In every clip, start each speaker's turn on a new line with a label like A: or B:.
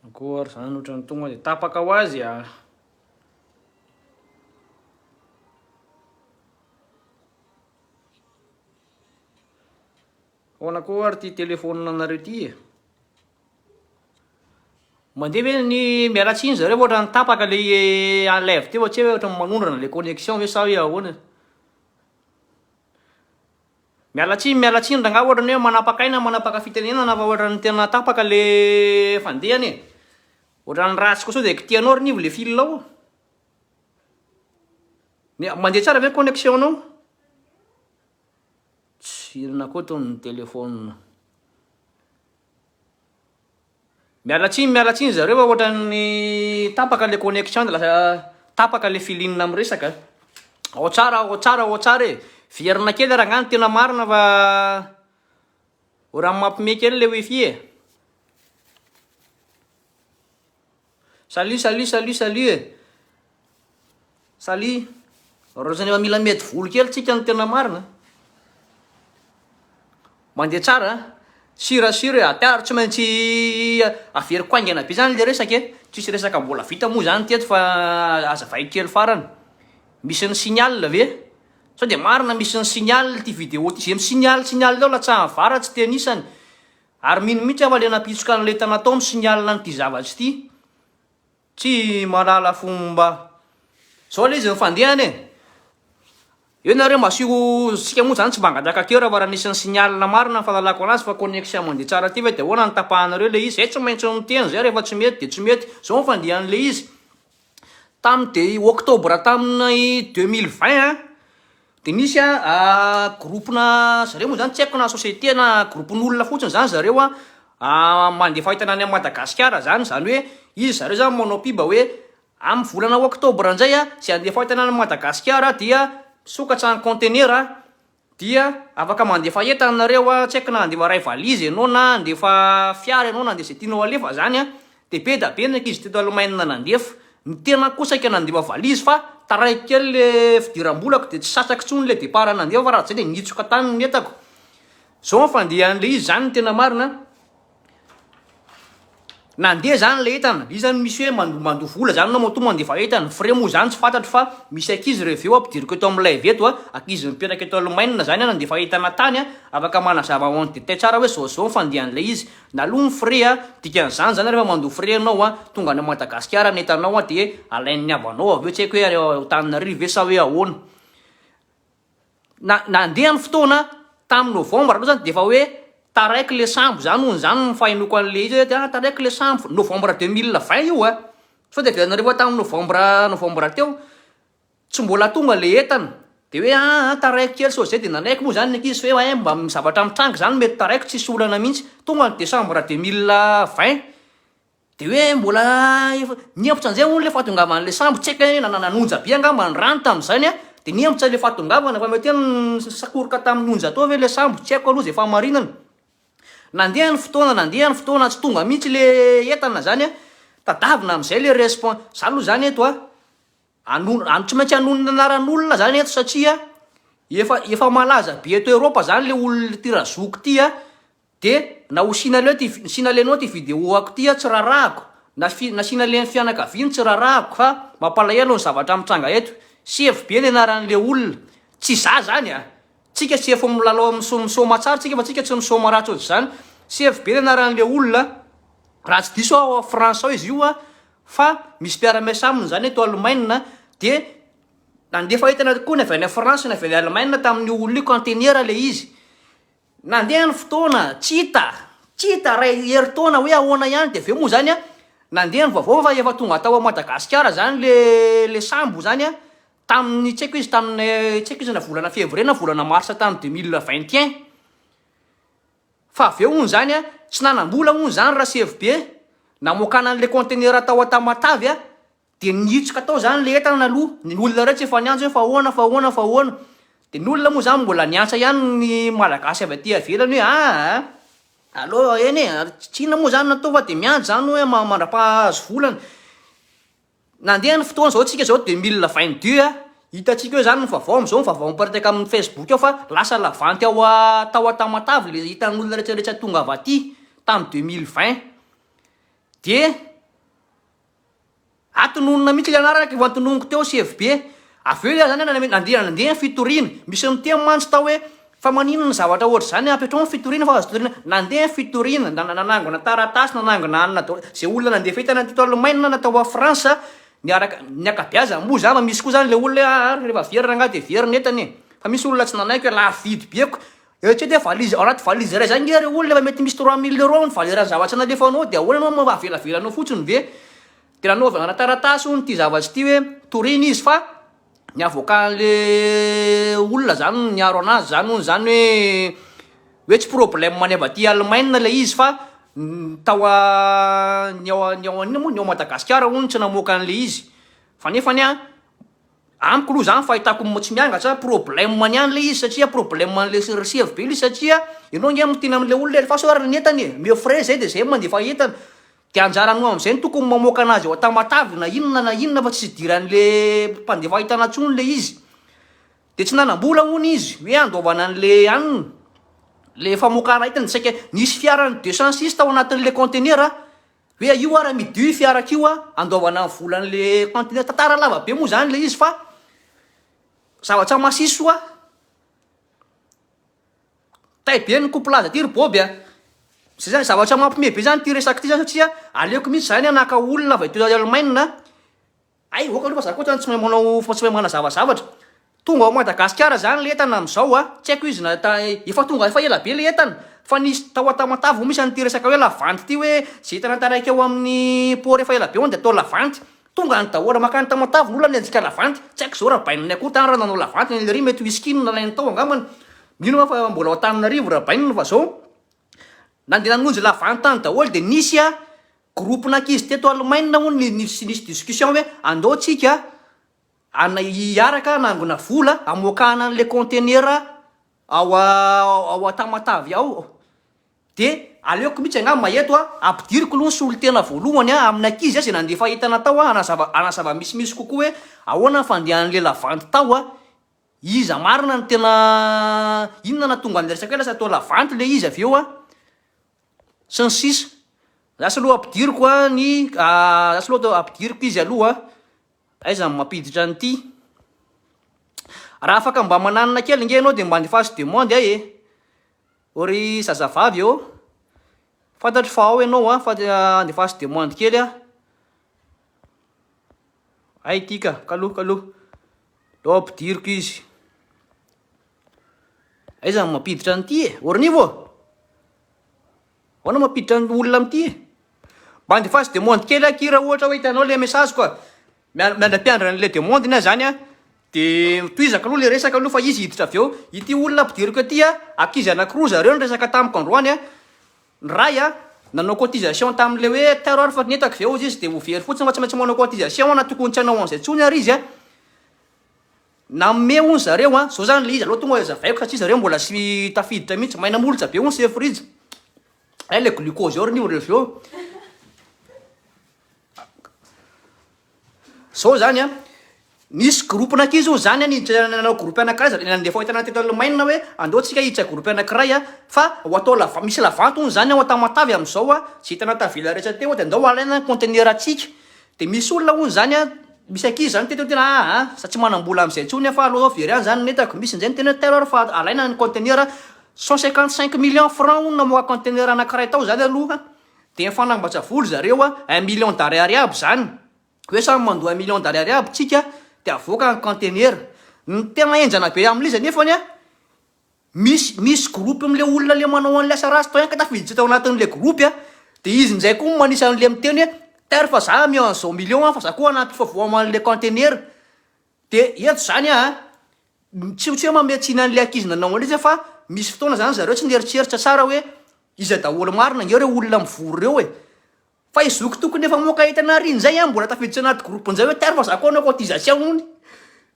A: Encore zany otrany tonga de tapaka ho azy a. Hoana koa ary ty téléphone anareo ty e. Mandeha ve ny miala tsiny zareo fa otrany tapaka le eh, en live teo tsy hoe otrany manondrana le connexion ve sa hoe ahoana. Miala tsiny miala tsiny rangah ohatra ny hoe manapaka aina manapaka fitenenana fa ohatra ny tena tapaka le fandehany e! Ohatra ny ratsy koa sao de kitihanao ry nivo le fil ao? Mia mandeha tsara ve ny connexion nao? Tss inona koa tony ny telephone. Miala tsiny miala tsiny zareo a ohatran'ny tapaka le connection de lasa tapaka le filine miresaka a! Ao tsara ao tsara ao tsara e! Viherina kely rangahy ny tena marina fa oran'ny mampime kely le wifi e! Salut salut salut salut e Salut Roson efa mila mety volo kely tsika no tena marina Mandeha tsara a Sur a sur e Ata ary tsy maintsy averiko haingana be zany le resaka e Tsisy resaka mbola vita moa zany teto fa azavaiko kely farany Misy ny signal ve? Sao dia marina misy ny signal ity vidéo ty Ze mi signal signal eo latsahan'ny vara tsy tenisany Ary mino mihitsy aho fa le nampitsoka an'ilay tana tao misy ny alina an'ity zavatra ity. Tsy mahalala fomba. Zao le izy nifandehana e. Eo nareo mba asio isika moa zany tsy mba angataka coeur fa raha nisy ny signal marina ny fahalalako anazy fa connexion mandeha tsara ty ve de ahoana ny tapahanareo le izy. Zay tsy maintsy miteny zay rehefa tsy mety de tsy mety. Zao ny fandehan'ilay izy. Tamin'ny dia octobre tamin'ny deux mille vingt an. Dia misy a groupe-na zareo moa zany tsy haiko na société na groupe-n'olona fotsiny zany zareo a mandefa entana any Madagasikara zany, zany hoe izy zareo zany manao piba hoe amin'ny volana octobre indray a zay handefa entana any Madagasikara dia misokatra ny conteneur a dia afaka mandefa entana nareo a, tsy haiko na handefa iray valise ianao na handefa fiara ianao na handefa zay tianao halefa zany a. Dia be dia be ny ankizy teto Allemagne nandefa. Ny tenako kosa saika nandefa valizy fa taraiky kely ilay fidiram-bolako dia tsy sasaky intsony ilay départ nandefa fa raha tsy izay dia nihitsoka tany ny entako. Izao ny fandehan'ilay izy izany ny tena marina an. Nandeha izany ilay entana, iza no misy hoe mando- mandoa vola izany ianao matoa mandefa entana. Frais moa izany tsy fantatro fa misy ankizy reveo aho ampidiriko eto amin'ny live eto an, ankizy mipetraka eto Allemagne izany an, nandefa entana tany an, afaka manazava en détail tsara hoe izao izao ny fandehan'ilay izy. Naloa ny frais a, dikan'izany zany rehefa mandoa frais ianao a, tonga any Madagasikara ny entanao a dia alain'ny havanao avy eo, tsy haiko hoe any Antananarivo ve sa hoe ahoana. Na nandeha ny fotoana a, tamin'ny novembre aloha zany dia efa hoe taraiky le sambo zany hono zany ny fahenoako an'le izy hoe ah taraiky le sambo, novembre deux mille vingt io a, sao de avy any nareo fa tamin'ny novembre novembre teo. Tsy mbola tonga le entana de hoe aa taraiko kely sao zay de nanaiky moa zany ny ankizy fa hoe ee mba misy zavatra mitranga zany mety taraiko tsisy olana mihitsy tonga ny décembre deux mille vingt de hoe mbola efa nihemotra an'izay hono le fahatongavan'le sambo tsy haiko hoe nanana onja be angamba ny rano tamin'izany a de nihemotra le fahatongavana fa mety hoe nisakoroka tamin'ny onja tao ve le sambo tsy haiko aloha zay fahamarinana nandeha ny fotoana nandeha ny fotoana tsy tonga mihitsy le entana zany a tadavina am'izay le respon- za aloha zany eto a. Anona, an, tsy maintsy anonona anaran'olona zany eto satria efa efa malaza be eto Europe zany le olona ty razoko ty a, de na ho sinaleo ty vi, sinalenao ty video ako ty a tsy rarahako, na fi, na sinalen'ny fianakaviany tsy rarahako fa mampalahelo ny zavatra mitranga eto, sefo be ny anaran'le olona, tsy za zany a, tsika sefo milalao miso, misaoma tsara tsika fa tsika tsy misaoma ratsy ohatr'zany, sefo be ny anaran'le olona, raha tsy diso aho ao France ao izy io a, Fa misy mpiara-miasa aminy izany eto Alemaina dia nandefa entana koa ny avy any France ny avy any Alemaina tamin'io olona io kanteniera ilay izy. Nandeha ny fotoana, tsy hita, tsy hita iray herintaona hoe ahoana ihany dia avy eo moa izany an, nandeha ny vaovao fa efa tonga tao Madagasikara izany le le sambo izany an, tamin'ny tsy haiko izy tamin'ny tsy haiko izy na volana février na volana mars tany deux mille vingt et un. Fa avy eo hono izany a, tsy nanam-bola hono izany Rasevobe, namoakana an'ilay conteneur tao Antamatave a, dia nihitsoka tao izany ilay entana aloha, ny olona ireo tsy efa niantso hoe fa ahoana, fa ahoana, fa ahoana. Dia ny olona moa izany mbola niantsa ihany ny Malagasy avy aty ivelany hoe aa, allo eny e, tsy inona moa izany no atao fa dia miandry izany hoe mandrapaha-hahazo volana. Nandeha ny fotoana zao tsika zao de mila vin du a, hitantsika eo zany ny vavao amzao ny vavao miparitaka aminy facebook ao fa lasa lavanty ao a tao a tamatave le hitan olona rehetra rehetra tonga avy aty tamy deux mille vingt de atononina mitsy le anarana ka efa antononiko teo CFB Avy eo ianao nandeha nandeha ny fitoriana, misy niteny mantsy tao hoe fa maninona ny zavatra ohatr'izany, ampiatrao ny fitoriana fa azo toriana, nandeha ny fitoriana, nanangona taratasy, nanangona anona daholo, izay olona nandeha fahita nandeha tao Alemaina na tao France niaraka, ny ankabeazany moa izany fa misy koa izany ilay olona hoe aa rehefa very rangahy dia very ny entany e! fa misy olona tsy nanaiky hoe lafo vidy be ko, eritrereto hoe valise, ao anaty valise iray izany nge ry olona efa mety misy trois mille euros ny valeur ny zavatra nalefanao dia ahoana ianao no avelabelaninao fotsiny ve? Dia nanaovana ana taratasy hono ity zavatra ity hoe toriana izy fa ny avokan'le olona zany no niaro anazy zany hono zany hoe hoe tsy problème any avy aty Allemagne ilay izy fa tao a ny ao a ny ao an'inona moa ny ao Madagasikara hono tsy namoaka an'le izy fa nefany a amiko aloha zany fahitako tsy miangatra problème any ihany le izy satria problème an'le resy hevitra be le izy satria ianao nge miteny am'le olona e, fa sao ary ny entana e, mieux frais zay de zay mandefa entana Dia anjarany ho amin'izay ny tokony mamoaka anazy ao an-tamatave na inona na inona fa tsisy idiran'le mpandefa entana tsony le izy. Dia tsy nanam-bola hono izy hoe handoavana an'le anona, le famokana entana dia saika nisy fiaran'ny deux cent six tao anatin'le conteneur hoe aio ary amidio io fiara kio a, andoavana ny volan'le conteneur. Tantara lava be moa zany le izy fa zava-tsamasisy oa. Tay be ny couple aza ty ry boby a! Zay zany zavatra mampime be zany ty resaka ty zany satria aleoko mintsy zany an naka olona avy aty Allemagne a! Hay ok aloha fa za koa zany tsy mahay manao tsy mahay manazava zavatra, tonga ao Madagasikara zany le entana amzao a, tsy haiko izy na ta efa tonga efa ela be le entana, fa nisy tao a Tamatave misy an'ity resaka hoe la vente ty hoe ze entana taraiky ao amin'ny port efa ela be hono de atao la vente, Tonga any daholo. Makany Tamatave ny olona nianjika lavanty. Tsy haiko zao Rabaina ny akoho tany raha nanao lavanty ny an'i Lery mety whisky no nalainy tao angambany. Mino aho fa mbola ao Antananarivo Rabaina fa zao nandeha nanonjy lavanty tany daholo dia nisy groupe n'ankizy teto Alemaina hono ny nisy nisy discussion hoe andao tsika an hiaraka hanangona vola hamoakana an'ilay conteneur ao ao Tamatave ao. De aleoko mitsy angamba eto a, ampidiriko aloha ny solontena voalohany a, amin'ny ankizy a, izay nandefa entana tao a, hanazava, hanazava misimisy kokoa hoe ahoana ny fandehan'ilay lavanty tao a, iza marina no tena, inona nahatonga an'ilay resaka hoe lasa tao lavanty ilay izy avy eo a, sy ny sisa. Za saloha ampidiriko a ny za saloha atao ampidiriko izy aloha a, aiza no mampiditra an'ity, raha afaka mba mananina kely nge ianao de mba andefaso demande ahy e, O ry zazavavy ô! Fantatro fa ao ianao an! Fa andefaso demande kely an! Hay ity ka! Kaloha kaloha! Ndao ampidiriko izy! Aiza ny mampiditra an'ity e? Ornivo ô! Ahoana mampiditra ny olona amin'ity e? Mba andefaso demande kely akia raha ohatra hoe hitanao ilay message-ko a! Miandry ampiandry an'ilay demande ny ahy zany an, de tohizako aloha le resaka aloha fa izy hiditra avy eo, ity olona ampidiriko aty an, ankizy anankiroa zareo niresaka tamiko androany an, ny ray an nanao cotisation tamin'ilay hoe taro ary fa nentako ve ozy izy de ho very fotsiny fa tsy maintsy manao cotisation an na tokony tsy hanao an'izay tsony ary izy an, nanome hono zareo an, zao zany le izy aleo tonga de azavaiko satria zareo mbola sy tafiditra mintsy, maina molotra be hono sefo rija, hay le glucose eo ry ny olona avy eo. Zao zany an, nisy groupe n'ankizy hono zany an, nanao groupe anankiray, nandefa entana teto Allemagne hoe andao tsika hiditra groupe anankiray an, fa ho atao la vente, misy la vente hono zany ao Antamatave amizao an, ze entana tavela rehetra teo de andao alaina ny conteneur antsika, de misy olona hono zany an, misy ankizy zany teto tena aa za tsy manambola amizay intsony fa aleo zao very any zany ny entako, misy njay niteny hoe telo ary fa alaina ny conteneur, cent cinquante cinq millions francs hono namoaka conteneur anankiray tao zany aloha. Dia mifanambatsa vola zareo a, un million d'ariary aby izany, hoe samy mandoa un million d'ariary aby tsika dia avoaka ny conteneur. Ny tena henjana be amin'ilay izy anefany a, misy misy groupe amin'ilay olona ilay manao an'ilay asa ratsy tao ihany ka tafiditra tao anatin'ilay groupe a, dia izy indray koa no manisa an'ilay miteny hoe tar fa za ameo an'izao million fa za koa hanampifa voama an'ilay conteneur, dia eto izany a. Tsy tsy hoe manome tsiny an'ilay ankizy nanao an'ilay izy fa misy fotoana zany zareo tsy nieritreritra tsara hoe iza daholo marina nge reo olona mivory reo e! Fa i zoky tokony efa moka hita nariany zay an! Mbola tafiditra anaty groupe njay hoe tiaro fa za ko anao cotisation hono!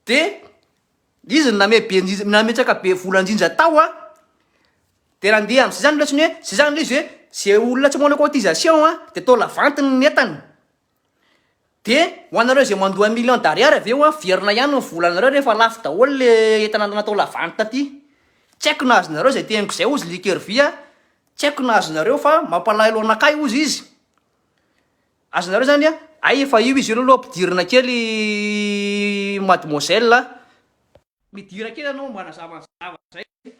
A: De izy no name be njinja nametraka be vola njinja tao an! De nandeha amzay zany le otrany hoe zay zany le izy hoe ze olona tsy manao cotisation an de atao la vente ny entany! Dia ho anareo izay mandoa millions d'ariary avy eo averina ihany ny volanareo rehefa lafo daholo le entana natao la vente taty. Tsy haiko nahazo nareo izay teniko izay ozy liker vy a, tsy haiko nahazo nareo fa mampalahelo anakahy ozy izy. Azonareo zany a, hay efa io izy io leloha ampidirina kely mademoiselle a. Midira kely anao mba anazava an'izay zavatra izay.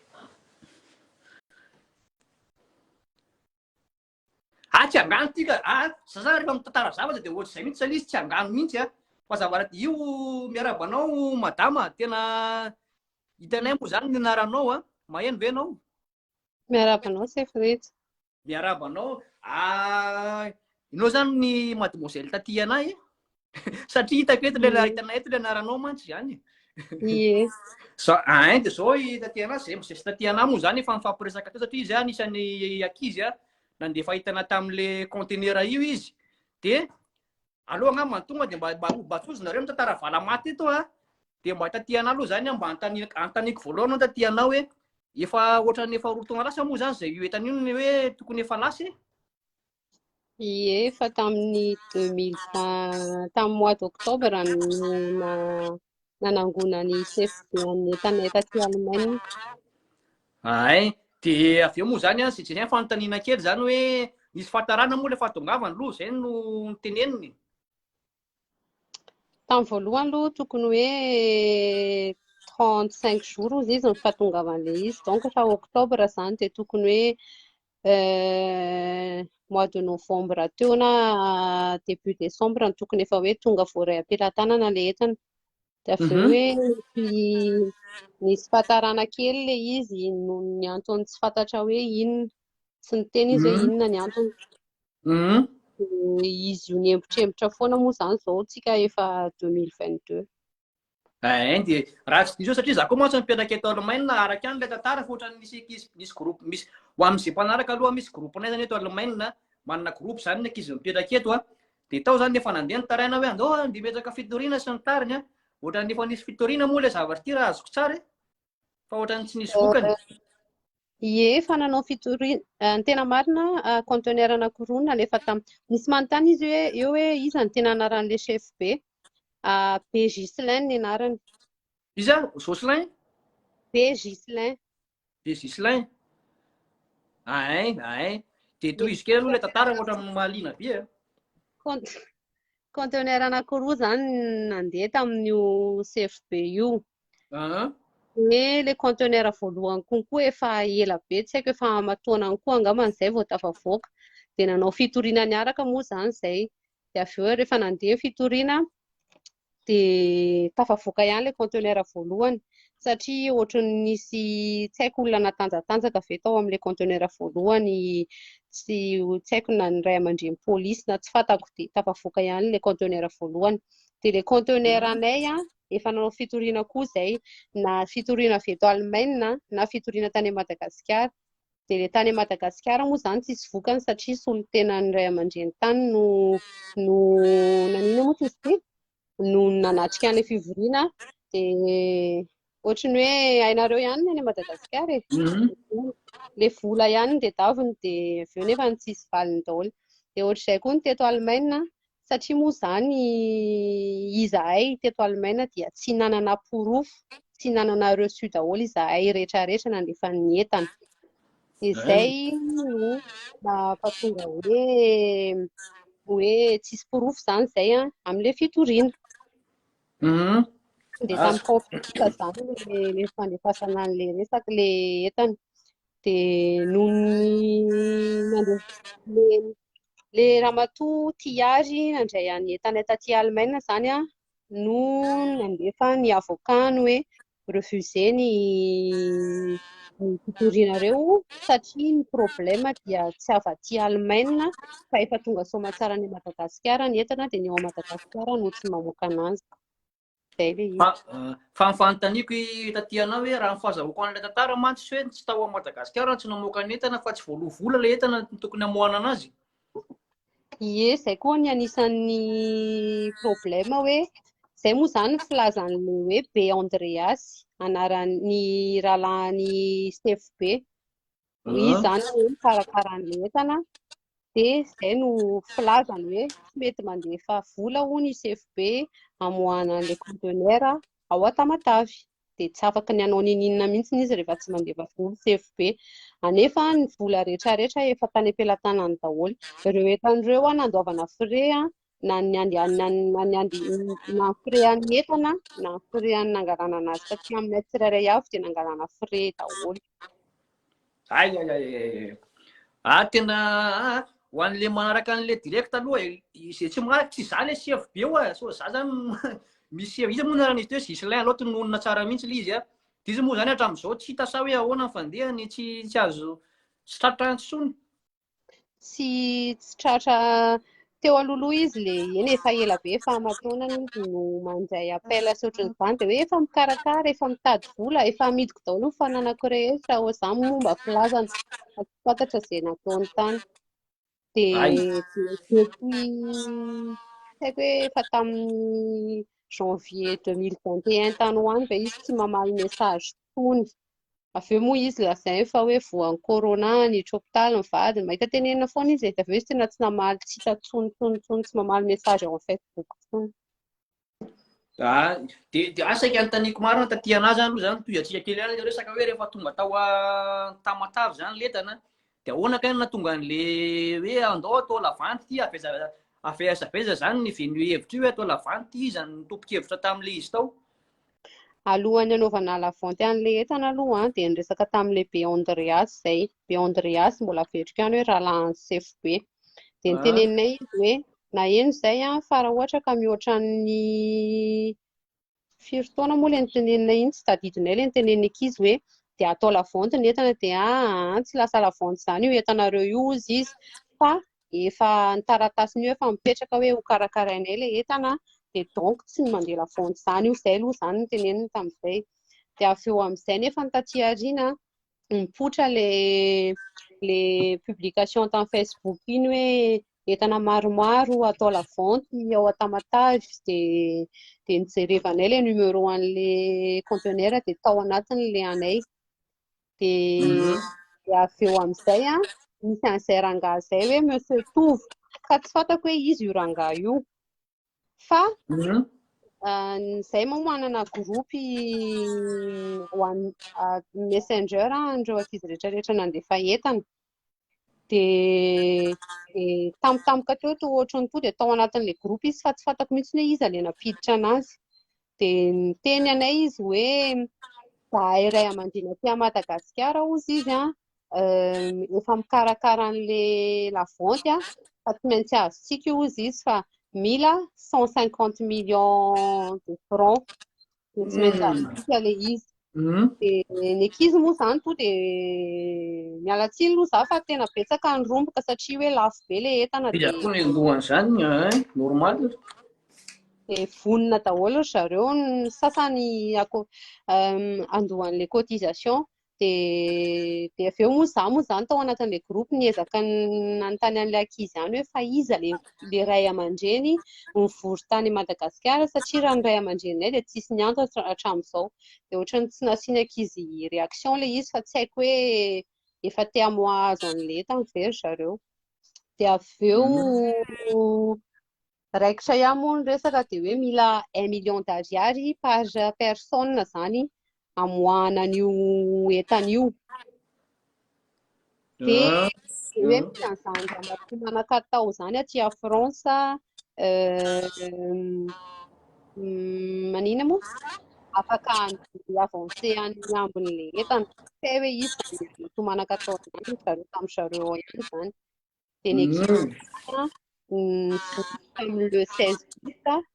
A: Atsy angano ty ka a sasana rehefa mitantara zavatra dia ohatr'izay mihitsy zany izy tsy angano mihitsy a mazava raha io miarahaba anao madama tena hitanay moa zany ny anaranao a maheno ve ianao miarahaba
B: anao chef rejy miarahaba anao
A: a inao zany ny mademoiselle taty anay Satria hitako eto ilay ahitana eto ilay anaranao mantsy izany. Yes.
B: Za ain
A: dia zao i Tatiana zay mosesy Tatiana moa zany efa nifampiresaka teo satria izy anisan'ny ankizy a nandefa hitana tamin'le conteneur io izy. Dia aleo angamba ny tonga dia mba mba mba tozonareo ny tantara valamaty eto a. Dia mba Tatiana aloha zany mba antani antaniko voalohany Tatiana hoe efa ohatran'ny efa roa taona lasa moa zany zay io entana io ny hoe tokony efa lasa e.
B: Ie, efa tamin'ny 2020, tamin'ny mois d'octobre no na, nanangona ny CFD an'ny Etana taty Allemagne. Ahay,
A: dia avy eo moa izany an, Zejirien fanontaniana kely izany hoe, nisy fahatarana moa ilay fahatongavany aloha, izay no niteneniny?
B: Tamin'ny voalohany aloha tokony hoe trente cinq jours hozy izy ny fahatongavan'ilay izy, donc efa octobre izany dia tokony hoe mois de novembre teo na début décembre no tokony efa hoe tonga voaray am-pelatanana ilay entana. Dia avy eo hoe nisy fahatarana kely ilay izy noho ny antony tsy fantatra hoe inona. Tsy niteny izy hoe inona ny antony. Izy io niembotrembotra foana moa izany izao tsika efa 2022. Eeh
A: dia raha tsy diso aho satria za koa mantsy mipetraka eto Alemaina araka ihany ilay tantara fa ohatran'ny misy ankizy misy groupe misy ho amin'izay mpanaraka aloha misy groupe-nay izany eto Alemaina manana groupe izany ny ankizy mipetraka eto a Dia tao izany efa nandeha ny taraina hoe andao handeha miezaka fitoriana sy ny tariny an! Ohatran'ny efa nisy fitoriana moa ilay zavatra ity raha azoko tsara e! Fa ohatran'ny tsy nisy vokany. Ie,
B: efa nanao fitoriana. Eh, ny tena marina, ah, conteneur anankiroa nalefa tam. Nisy manontany izy hoe eo hoe iza ny tena anaran'ilay chef be. Ah, be Gislain ny anarany. Iza?
A: Jocelyn? Be
B: Gislain. de Gislain ahay
A: ahay de tohiziko aloha ilay tantara ohatra amin'ny mahaliana be a
B: conteneur anakiroa zany nandeha tamin'io CFB io de le conteneur voalohany konkoa efa ela be tsy haiko efa amatoanany koa angambany izay vao tafavoaka de nanao fitoriana niaraka moa zany izay de avy eo rehefa nandeha ny fitoriana dia tafavoaka ihany ilay conteneur voalohany satria ohatran'ny nisy tsy haiko olona natanjatanjaka ve tao amin'ilay conteneur voalohany tsy tsy haiko na ny ray aman-dreny polisy na tsy fantako dia tafavoaka ihany ilay conteneur voalohany dia ilay conteneur anay a efa nanao fitoriana koa izay na fitoriana avy eto Alemaina na fitoriana tany Madagasikara Dia ilay tany Madagasikara moa izany tsisy vokany satria solontenan'ny ray aman-dreny tany no no nanina moa izy ity no nanatrika an'ilay fivoriana dia ohatry ny hoe hainareo ihany ny any Madagasikara e. Mhm. Ilay vola ihany ny tedaviny dia avy eo nefa ny tsisy valiny daholo. Dia ohatr'izay koa ny teto Alemaina satria moa izany izahay teto Alemaina dia tsy nanana porofo, tsy nanana reçu daholo izahay rehetra rehetra nandefan'ny entana. Dia izay no nahatonga hoe hoe tsisy porofo izany izay an, amin'ilay fitoriana. Mhm. Dia samy conflit izany ilay fandefasana an'ilay resaka, ilay entana. Dia noho ny nandeha ilay ramatoa Tihiary nandray an'i Etana taty Alemaina izany an, no nandefa ny avocat-ny hoe refuser ny ny fitorianareo satria ny problème dia tsy avy aty Alemaina fa efa tonga soamantsara any Madagasikara ny entana dia ny ao Madagasikara no tsy mamoaka ananjy. Zay le izy. Fa fa ny
A: fanontaniako i taty anao hoe raha ny fahazahoako an'ilay tantara mantsy hoe tsy tao Madagasikara no tsy namoaka ny entana fa tsy voaloa vola ilay entana no tokony hamoahana anazy.
B: Ie, zay koa ny anisan'ny problème hoe zay moa zany ny filazan'ilay hoe Be Andreas, anaran'ny rahalahin'i Sefo Be. Hoy izy izany hoe mikarakara ny entana dia izay no filazany hoe tsy mety mandefa vola hoy ny CFB hamoahana an'ilay conteneur ao Tamatave. Dia tsy afaka ny hanao ninininona mihitsy izy rehefa tsy mandefa vola CFB. Anefa ny vola rehetra rehetra efa tany am-pelatanany daholo. Ireo entana ireo nandoavana frais na ny andy na ny andy na ny frais an'ny entana na ny frais an'ny nangalanana azy satria aminay tsirairay avy dia nangalana frais daholo. Ay ay ay ay.
A: Ah tena ah, ho an'le manaraka an'le direct aloha eh, izay tsy manaraka tsy za le chef be oa eh. so za zany misy chef izy moa narana izy teo Gislain aloha tononina tsara mihitsy le izy a. Ah. Dizy moa zany hatramin'izao tsy hita sa hoe ahoana ny fandehany tsy tsy azo sitratra intsony.
B: tsy tsy tratra teo alohaloha izy le eny efa ela be efa amatoanana izy no mandray appel sy ohatran'izany dia hoe efa mikarakara efa mitady vola efa amidiko daholo ny fananako rehetra ho izany momba filazana fa tsy fantatra izay nataony tany dia depuis haiko hoe efa tamin'ny janvier 2021 tany ho any ve izy tsy mamaly message Tony. Avy eo moa izy lazainy fa hoe voan'ny corona niditra hopitaly ny vadiny. Mahita tenenina foana izy e. Dia avy eo izy tena tsy namaly tsitra intsony intsony intsony, tsy mamaly message ao amin'ny Facebook intsony. Ah,
A: dia dia ah, saika anontaniako marina taty anà izany aloha izany, tohizatsika kely ihany ilay resaka hoe rehefa tonga tao a, Tamatave izany ny lentana, de ahoana kay no nahatonga an'le hoe andao atao lavanty ity aveza aveza aveza zany ny venue hevitra io hoe atao lavanty ity iza no tompon-kevitra tamin'le izy tao
B: alohan'ny anaovana lavanty an'le entana aloha an, dia niresaka tamin'le be Andreas izay be Andreas mbola averiko ihany hoe rahalahin'i sefo be dia niteneninay izy hoe naheno izay an, fa raha ohatra ka mihoatra ny Firy taona moa ilay nitenenina iny? Tsy tadidinay ilay nitenenina ankizy hoe dia atao lavanty ny entana dia an, tsy lasa lavanty izany io entanareo io hozy izy fa efa ny taratasiny io efa mipetraka hoe ho karakarainay ilay entana dia donc tsy ny mandeha lavanty izany io, izay aloha izany no niteneniny tamin'izay. Dia avy eo amin'izay nefa ny taty aoriana nipoitra le le publication tam Facebook iny hoe entana maromaro atao la vente ao Tamatave de de nijerevanay le numéro an'le conteneur de tao anatiny le anay de mhm. de avy eo amin'izay a misy an'izay rangahy zay hoe monsieur Tovo fa tsy fantako hoe izy io rangahy io Fa mhm. ah, zay moa manana groupe one ah, messenger an'ireo ankizy rehetra rehetra nandefa entana. Dia eh, tampotampoka teo to ohatran'ny to dia tao anatin'ilay groupe izy fa tsy fantako mihitsy hoe iza ilay nampiditra anazy. Dia niteny anay izy hoe zahay ray aman-dreny aty Madagasikara hozy izy an, efa mikarakara an'ilay lavonty an, fa tsy maintsy azontsika io hozy izy fa mila cent cinquante millions de francs, dia tsy maintsy azontsika ilay izy. Mm. Dia ny ankizy moa izany toa dia miala tsiny aloha za fa tena betsaka ny romboka satria hoe lafo be ilay entana dia Dia koa ny lohan'izany,
A: eh, normal. dia
B: vonona daholo ry zareo ny sasany ako- em, andohan'ilay cotisation dia dia avy eo moa za moa izany tao anatin'ilay groupe niezaka ny nanontany an'ilay ankizy ihany hoe fa iza ilay ny ray aman-dreny mivory tany Madagasikara satria raha ny ray aman-dreninay dia tsisy niantso hatramin'izao. Dia ohatran'ny tsy nasiany ankizy réaction ilay izy fa tsy haiko hoe efa te hamoahazo an'ilay entany ve ry zareo. Dia avy eo mm. raikitra ihany moa ny resaka dia hoe mila un million d'ariary par personne izany amoahana an'io entana io. Dia ah, hoe misy an'izany ramatoa manakatao izany aty a France, euh, manina moa? Afaka avanse any ambin'ilay entana. Tsy hoe izy zany manakatao izany, zareo tamin'ny zareo ao ihany izany. dia ny ekipa tamin'ny le 16 août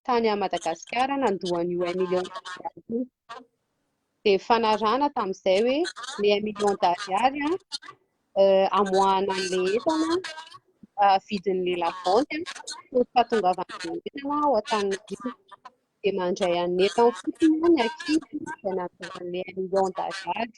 B: tany à Madagasikara nandoa an'io un million d'ariary io. Dia nifanarahana tamin'izay hoe le un million d'ariary amoahana an'ilay entana vidin'ilay lavanty fony fahatongavana an'ilay entana ao Antananarivo. Dia mandray an'entana fotsiny ny ankizy izay nandoa an'ilay un million d'ariary.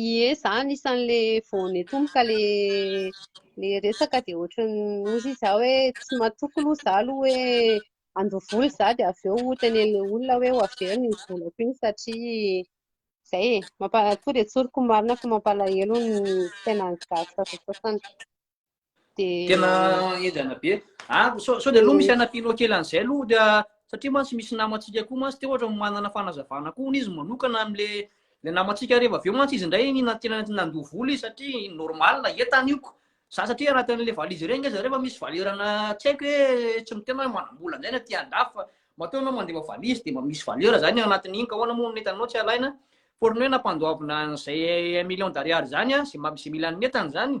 B: Ie, za anisan'le vao netomboka le le resaka dia ohatran'ny hozy za hoe tsy matoky aloha za aloha hoe handoa vola za dia avy eo hotenenina olona hoe ho averina iny volako iny satria zay e, mampa, tonga dia tsoriko marina fa mampalahelo ny fiainan'ny gasy sasasasany.
A: Tena enjana be. Ah, sao dia aloha misy anapilo kely an'izay aloha dia satria mantsy misy namantsika koa mantsy dia ohatra manana fanazavana koa hono izy manokana amin'le le namantsika rehefa avy eo mantsy izy indray na tena nandoa vola izy satria normal entana io ko. Za satria anaty an'le valizy ireny nge zareo fa misy valerana tsy haiko hoe tsy mitena hoe manam-bola an'izay na aty an-dafy fa matoa ianao mandefa valizy dia mba misy valeur zany ao anatin'iny ka ahoana moa ny entanao tsy alaina fa ohatran'ny hoe nampandoavina an'izay un million d'ariary zany a, izay mba- izay mila ny entana zany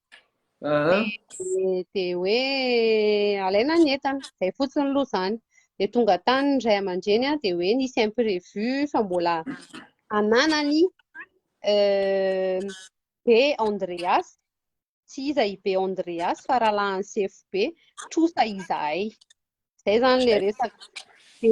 B: dia hoe alaina ny entana izay fotsiny aloha izany dia tonga tany ny ray aman-dreny a dia hoe nisy imprévu fa mbola ananany euh, be andreas tsy iza i be andreas fa rahalahany sefo be trosa izahay Zay zany le resaka. De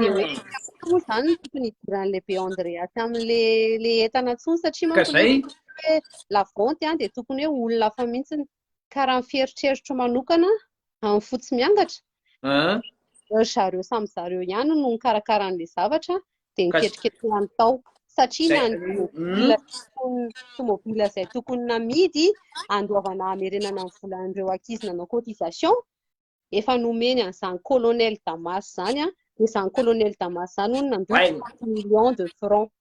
B: de hoe mm. moa zany tokony hidiran'le be Andreas amin'le le entana tsony satria manko zay hoe la vente a de tokony hoe olona hafa mihitsy ny karaha ny fieritreritro manokana amin'ny fotsy miangatra. Ah. Zareo samy zareo ihany no nikarakara an'le zavatra de niketriketrehany tao satria na ny tomobila hmm? tomobila izay tokony namidy andoavana hamerenana ny volan'ireo ankizy nanao cotisation efa nomeny an'izany colonel Damas izany an, dia izany colonel Damas izany hono nandoa Hainy. 30 millions de francs.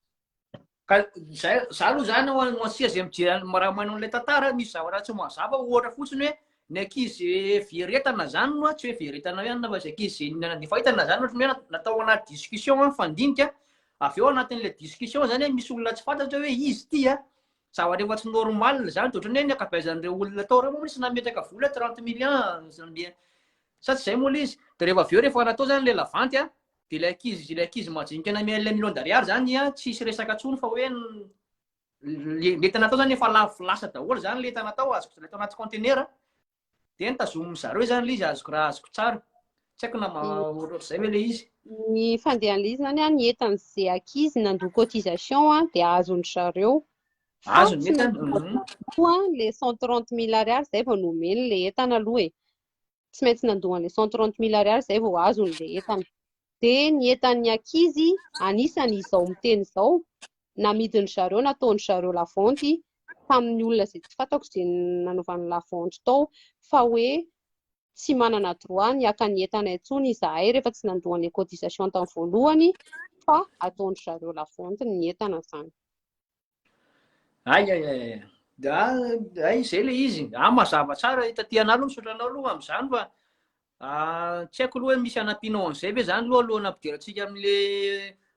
B: Ka
A: zay za aloha zany ho ho antsika izay mijery an'i raha manao an'ilay tantara misy zavatra tsy mazava ohatra fotsiny hoe ny ankizy veretana zany no tsy hoe veretana ihany fa izay ankizy izay na- efa hitana zany ohatry ny hoe natao anaty discussion mifandinika avy eo anatin'ilay discussion zany hoe misy olona tsy fantatra hoe izy ity a Zava-drehefa tsy normal izany, dia ohatran'ny hoe ny ankabeazan'ireo olona tao ireo moa tsy nametraka vola 30 millions, sa tsy izay moa ilay izy? Dia rehefa avy eo rehefa natao izany ilay lavanty an, dia ilay ankizy ilay ankizy majinika namehy an'ilay million d'ariary izany an, tsy hisy resaka intsony fa hoe ny entana natao izany efa lavo lasa daholo izany ilay entana tao, azoko tao anaty container. dia notazonin'ny zareo izany ilay izy azoko raha azoko tsara. Tsy haiko na ohatr'izay ve ilay izy. Ny fandehan'ilay
B: izy izany ny entan'izay ankizy nandoa cotisation dia azon-dry zareo. Azony ny
A: entana. Mhm.
B: Ilay 130 mille ariary izay vao nomeny ilay entana aloha e. Tsy maintsy nandoa an'ilay 130 mille ariary izay vao azony ilay entana. dia ny entan'ny ankizy anisany izao miteny izao, namidin-dry zareo, nataon-dry zareo lavanty tamin'ny olona izay tsy fantako izay nanaovany lavanty tao, fa hoe tsy manana droit ny haka ny entana intsony izahay rehefa tsy nandoa an'ilay cotisation tamin'ny voalohany fa ataon-dry zareo lavanty ny entana izany. Ay ay
A: ay. Ay izay ilay izy. Ah mazava tsara taty anah aloha misaotra anao aloha amin'izany fa tsy haiko aloha hoe misy anampianao an'izay ve zany aloha alohan'ny hampidirantsika amin'le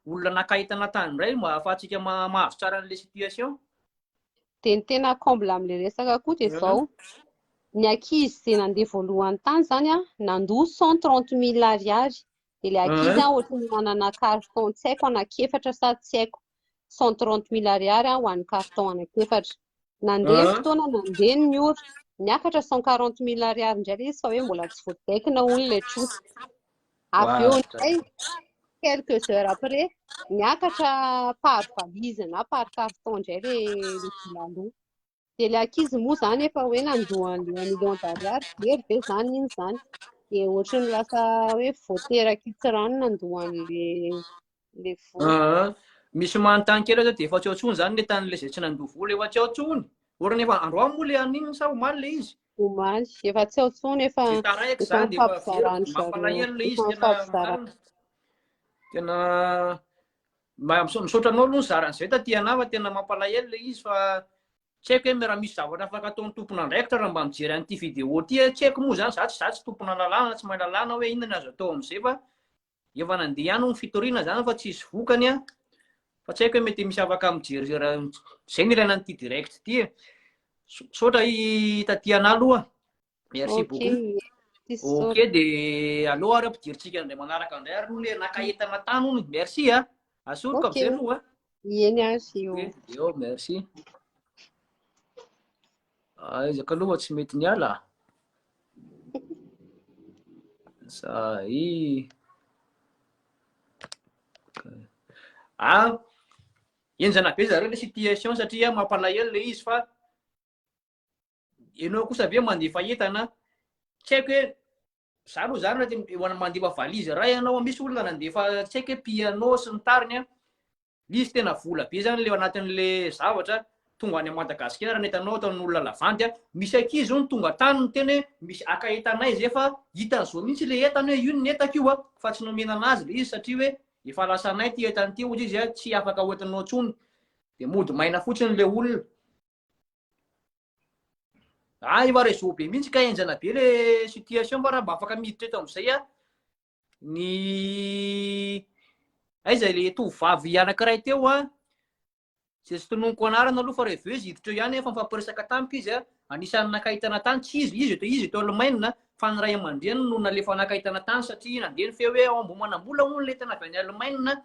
A: olona naka entana tany indray mba ahafahantsika mahazo tsara an'le situation. Dia
B: ny tena comble amin'ilay resaka koa dia izao, ny ankizy izay nandeha voalohany tany izany an, nandoa cent trente mille ariary, dia ilay ankizy an ohatran'ny nanana carton tsy haiko anaky efatra sa tsy haiko, cent trente mille ariary ho an'ny carton anankiefatra. Nandeha ny ah. fotoana nandeha ny ora, niakatra cent quarante mille ariary indray ilay izy fa hoe mbola tsy voadaikina hono ilay trosa. Avy eo indray quelques heures après, niakatra par valise na par carton indray ilay vola aloha. Dia ilay ankizy moa izany efa hoe nandoa an'ilay million d'ariary, very ve izany iny izany? Dia ohatry ny lasa hoe vao terak'itsy rano nandoa an'ilay vola. Ah, misy manontany
A: kely aza dia efa tsy ao intsony izany ilay tanin'ilay izay tsy nandoa vola, efa tsy ao intsony. Orana efa androany moa ilay an'iny sa omaly ilay izy? Omaly, efa
B: tsy ao intsony, efa Dia taraiky efa izany dia efa very, mifampizarana zareo,
A: mampalahelo ilay izy tena mifampizarana. marina. Tena Misaotra anao aloha nizara an'izay taty anah fa tena mampalahelo ilay izy fa tsy haiko hoe raha misy zavatra afaka ataon'ny tompon'andraikitra raha mba mijery an'ity vidéo ity tsy haiko moa zany za tsy za tsy tompona lalàna tsy mahay lalàna hoe inona ny azo atao amin'izay fa efa nandeha ihany hono fitoriana zany fa tsisy vokany an fa tsy haiko hoe mety misy afaka mijery izay ny ilaina an'ity direct ity e misaotra i taty anah aloha Merci okay. beaucoup. Ok, dia aleo ary ampidirintsika indray manaraka indray ary le naka entana tany hono. Merci a. Asoroka amizay aloha. Ieny azy
B: io. Eo, merci.
A: Aizaka ah, aloha tsy mety ny ala. Zay. Ah, enjana be zareo le situation satria mampalahelo le izy fa Ianao kosa ve mandefa entana? Tsy haiko hoe za aloha zany raha te- eo- mandefa valise iray ianao misy olona nandefa tsy haiko hoe piano sy ny tariny a misy tena vola be zany le anatin'le zavatra tonga any madagasikara ny entanao ataon'olona lavandy a misy ankizy hono tonga tany ny teny hoe misy aka entanay zay fa hitany zao mihitsy le entana hoe io ny entako io a fa tsy nomena anazy le izy satria hoe efa lasanay ty entany ty hozy izy a tsy afaka hoentinao intsony de mody maina fotsiny le olona Ah, i Marezo be mihitsy ka enjana be le situation fa raha mba afaka miditra eto amin'izay a ny aiza le tovovavy anankiray teo a zay tsy tononiko anarana aloha fa rehefa izy hiditra eo ihany efa mifampiresaka tamiko izy a anisan'ny nakahitana tany tsy izy izy eto izy eto Alemaina fa ny ray aman-dreniny no nalefa nakahitana tany satria nandeha ny feo hoe ao Ambohimanambola hono le tena avy any Alemaina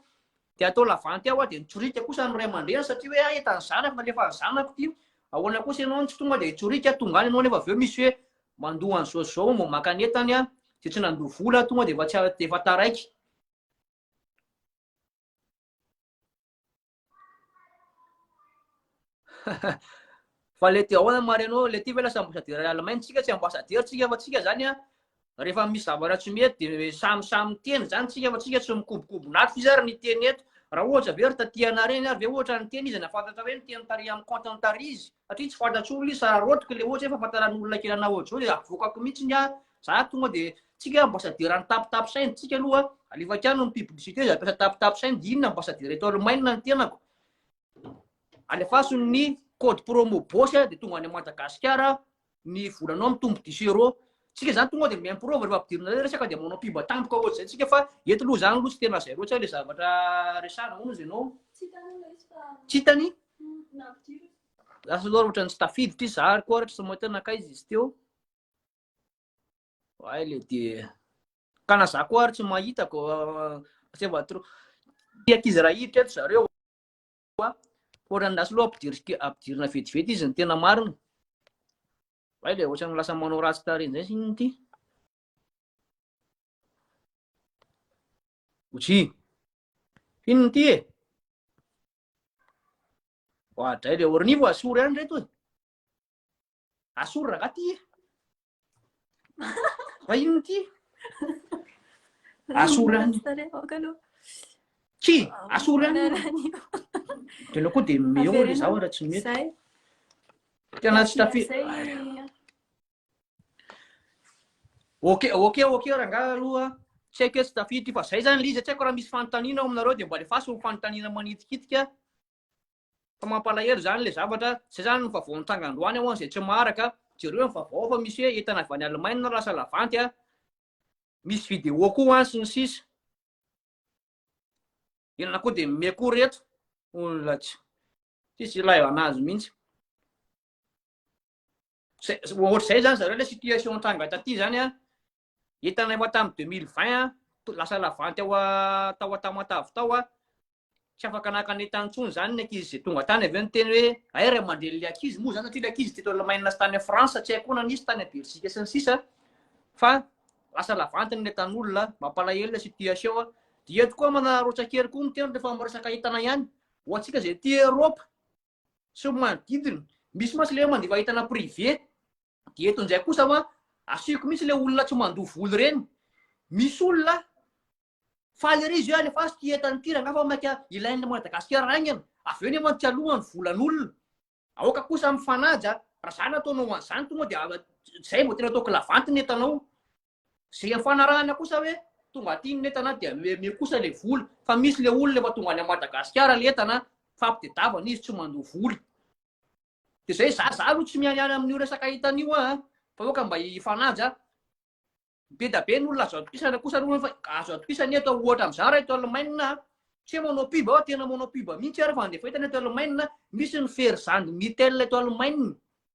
A: dia atao lavanty aho dia nitsorika kosa ny ray aman-dreniny satria hoe ahy etan'ny zanako nalefan'ny zanako ity ahoana kosa ianao no tsy tonga dia hitsorika tonga any ianao nefa avy eo misy hoe mandoa an'izao izao mba maka ny entany aho dia tsy nandoa vola aho tonga dia efa tsy a- dia efa taraiky Fa le ty ahoana marina anao, le ty ve lasa ambassadeur any Allemagne, tsika tsy ambassadeur tsika fa tsika zany a rehefa misy zavatra tsy mety de samy samy miteny zany tsika fa tsika tsy mikobokobon'ato f'izy ary niteny eto, raha ohatra ve ry taty anah reny ary ve ohatra niteny izy nahafantatra hoe niteny tary amin'ny compte ny tary izy, satria tsy fantatro olona izy fa raha raotiko le ohatra hoe fahafantaran'olona kely anah ohatr'izao de avoakako mihitsy ny ahy, za tonga de tsika ambassadeur any tapitapy saina, tsika aloha alefako ihany ny publicité za mpiasa tapitapy saina de inona ambassadeur eto Allemagne ny tenako. alefaso ny code promo boss dia tonga any Madagasikara ny volanao mitombo dix euro tsika zany tonga dia mimprovy rehefa ampidirina ilay resaka dia manao mpiba tampoka ohatry izay tsika fa eto aloha zany aloha tsy tena zay loatra ilay zavatra resahana hono izy ianao tsy hitany lasa loatra ny tsy tafiditra izy zahary koa ohatra tsy mahita nakaiza izy teo Ay le dia ka na za koa ary tsy mahita ko c'est va trop ty ankizy raha hiditra eto zareo fa ohatran'ny lasa loha ampidirika ampidirina vetivety izy ny tena marina ay le ohatran'ny lasa manao ratsy tarehy zay siny ty oji iny ty e oadray le ornivo asory any reto e Asoro rangah ty e! Raha inona ity? Asoro any. Ki, asoro any. Tena koa dia meo ilay zaho raha tsy mety. Tena tsy tafi. Ok, ok, ok rangah aloha. Tsy haiko tsy tafi ity fa zay zany liza tsy haiko raha misy fanontaniana ao aminareo dia mba alefaso ny fanontaniana manitikitika. Fa mampalahelo izany ilay zavatra, izay izany no vaovao nitranga androany hoan izay tsy maharaka, jereo ny vaovao fa misy hoe entana avy any Allemagne no lasa lavanty a, misy vidéo koa hoan sy ny sisa. Inona koa dia mime koa ry reto, olona tsy tsisy ilay anazy mihitsy. Ohatr'izay izany zareo ilay situation nitranga taty izany a, Hitanay moa tamin'ny deux mille vingt an, lasa lavanty ao tao Antamatave tao an, tsy afaka naka ny entany intsony izany ny ankizy izay tonga tany, avy eo niteny hoe hay ray aman-drenin'ilay ankizy moa izany satria ilay ankizy teto Allemagne sy tany France, tsy hay koa na nisy tany à Belgique sy ny sisa fa lasa lavanty ny entan'olona, mampalahelo ilay situation an. Dia eto koa manararaotsa kely koa miteny rehefa miresaka entana ihany, ho antsika izay aty Europe, sy ny manodidina. Misy mantsy ilay hoe mandefa entana privé. Dia eto indray kosa fa asiko mihitsy ilay olona tsy mandoa vola ireny. Misy olona faly ery izy hoe alefaso ity entana ity rangahy fa maika ilain'ny Madagasikara haingana. Avy eo nefa tsy aloha ny volan'olona. Aoka kosa mifanaja, raha izany ataonao an'izany tonga dia izay vao tena atao kilavanty ny entanao. Zay efa anarahana kosa hoe tonga aty ny entana dia mihomehimehy kosa le vola. Fa misy le olona efa tonga any am Madagasikara le entana fa ampitedavana izy tsy mandoa vola. De zay za za aloha tsy mianiany amin'io resaka entana io an! Fa hoe ka mba hifanaja. Be da be ny olona azo atokisana kosa aloha fa azo atokisana eto ohatra am'za ra eto Allemagne an! Tsy hoe manao pub aho tena manao pub mihitsy ary fa andefa entana eto Allemagne misy ny fery zandry Mittel eto Allemagne.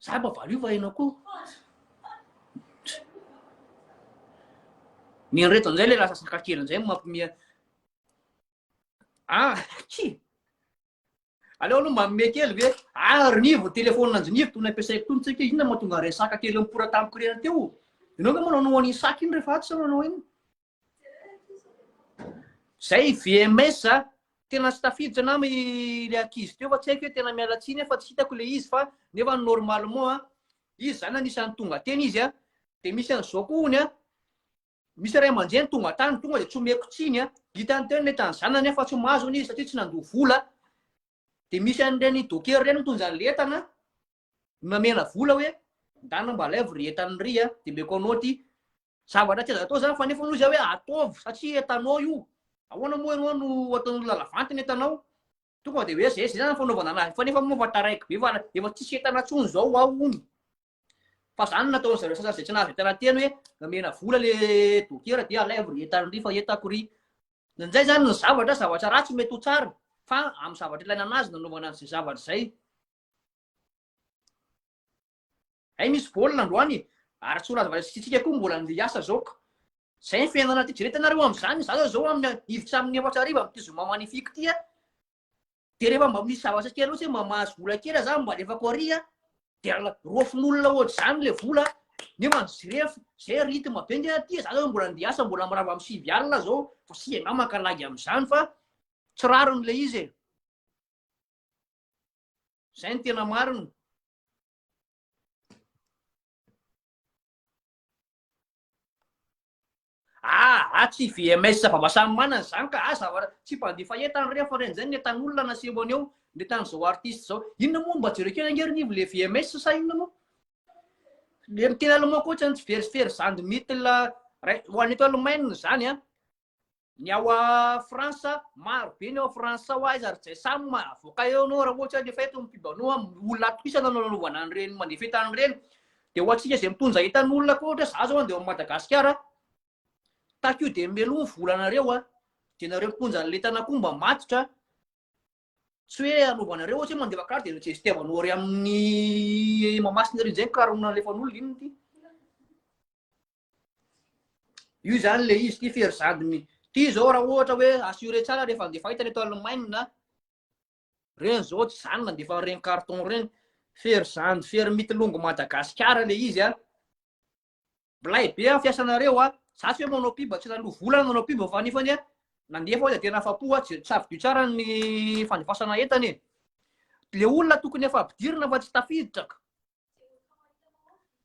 A: Za mba valo io fa enao ko. Ny anreto an'izay le lasa saka kely an'izay mampomia. Ah, ki! Aleo aloha mampomia kely ve? Ah, rinivo, telefona anjinivo, tony ampiasaiko tony tsika, inona mahatonga resaka kely mipora tamiko rena teo? Ianao ve manao anao an'iny saka iny rehefa atsy sa manao iny? Zay VMS a! Tena tsy tafiditra nama ilay ankizy teo fa tsy haiko hoe tena miala tsiny aho fa tsy hitako ilay izy fa nefa normalement a! Izy zany anisan'ny tonga teny izy a! Dia misy an'izao koa hono a! Misy ray aman-dreny tonga tany tonga dia tsy omeko tsiny a! Hitany teo ny entana ny zanany nefa tsy mahazo hono izy satria tsy nandoa vola. Dia misy an'ireny docker ireny mitondra an'ilay entana. Mamela vola hoe ndana mba alaivo ry etano ry a, de meconnaute zavatra tsy azo atao zany fa nefa hono izy hoe ataovy satria etanao io, ahoana moa ianao no ataon'olona lavanty ny etanao, tonga de hoe zay zay zany fanaovana anazy fa nefa moa efa taraiky be fa efa tsisy etana tsony zao ao hono, fa zany no nataon'ny zareo sasany zay tsy nahazo etana teny hoe namena vola le dokera de alaivo ry etano ry fa etako ry, ndraindray zany ny zavatra zavatra ratsy mety ho tsara fa amin'ny zavatra ilaina anazy nanaovana an'izay zavatra zay. Hay misy baolina androany e! Ary tsy ho lazavalazan'ny sisintsika koa mbola andeha hiasa zao ka! Zay ny fiainana ty, jereo itanareo amzany zaza zao amin'ny hiditra amin'ny efatra hariva amin'ity zoma magnifique ty a! De rehefa mba misy zavatra kely ohatsy hoe mba mahazo vola kely aho zany mba alefako ary a! De roafin'olona ohatr'izany le vola a! Nefa ny jirefo, zay rythme be nge aty e! Za zao mbola andeha hiasa mbola mirava amin'ny sivy alina zao fa singa ngah maka lagy amzany fa tsy rariny le izy e! Izay ny tena marina. Ah, ah tsy VMS vava samy manana izany ka, ah zavatra tsy mpandefa entana rehefa reny izay ny entan'olona no aseho aneo, ny entan'izao artiste izao. Inona moa mba jereo kely ange ry Nivo le VMS sa inona moa? Le miteny allemand koa ohatrany tsy verivery zandry mitila ho any eto Allemagne izany an. Ny ao France, maro be ny ao France ao, aiza ry Jaisa no mahavoaka eo anao raha ohatra ny efa eto ny mpibano olona atokisana no nanaovana an'ireny manefeta an'ireny. Dia ho antsika izay mitondra entan'olona koa ohatra za zao andeha ao Madagasikara, tahaka io dia meloha ny volanareo a! dia nareo mitondra an'ilay entana koa mba matotra a! tsy hoe anaovanareo ohatra hoe mandefa carte dia gestiavanao ary amin'ny Mahamasina ery izay ny karona alefan'olona inona ity? Io zany le izy ty fery zadiny. Ty zao raha ohatra hoe assuré tsara rehefa andefa hitany eto Allemagne na reny zao tsy zany mandefa reny carton reny. Fery zany, fery mitilongo Madagasikara le izy a. Blay be a fiasanareo a. Za tsy hoe manao pub tsy lalo vola na manao pub fa nefany a nandefa hoe tena afa-po a tsy savidio tsara ny fandefasana entana e. Le olona tokony efa ampidirina fa tsy tafiditra ka.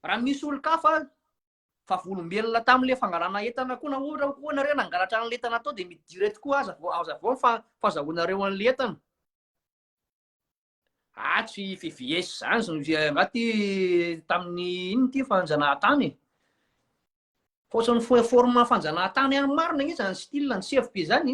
A: Raha misy olon-kafa fa volombelona tamin'ilay fangalana entana koa na ohatra koa nareo nangalatra an'ilay entana tao dia midira eto koa aza vao aza vao fa fazahoanareo an'ilay entana. Atsy VVS izany izay angaty tamin'ny inona ity fanjanahantany e. Fotsiny foe forme fanjanahantany ihany marina anie izany style ny CFB izany.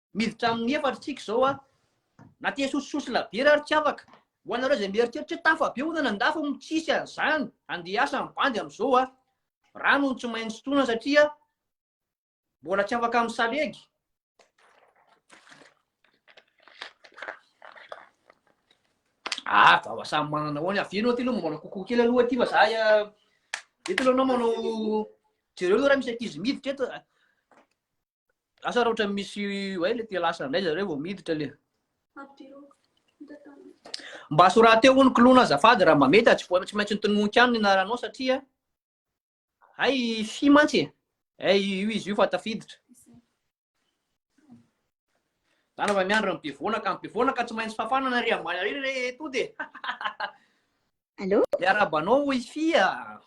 A: Miditra amin'ny efatra tsika izao a. Na te sosisosy labiera ary tsy afaka. Ho anareo izay mieritreritra hoe tafa be hono any an-dafy hono tsisy an'izany, andeha hiasa ny bandy amin'izao a. Rano hono tsy maintsy sotroina satria mbola tsy afaka amin'ny salegy. Ah, vava samy manana hoany. Avy enao ty aloha manao kokoa kely aloha ty fa za eto aloha anao manao jereo aloha raha misy ankizy miditra eto. Asa raha ohatran'ny misy hoe le te lasa indray zareo vao miditra le. Mba sorateo hono klona azafady raha mba mety tsy tsy maintsy nitononoka any ny anaranao satria hay fi mantsy e. Hay io izy io fa tafiditra. Zany fa miandry ny bevonaka, ny bevonaka tsy maintsy fafana na ry ambany ary re tody e. Allô?
C: Le arabanao
A: hoy fia.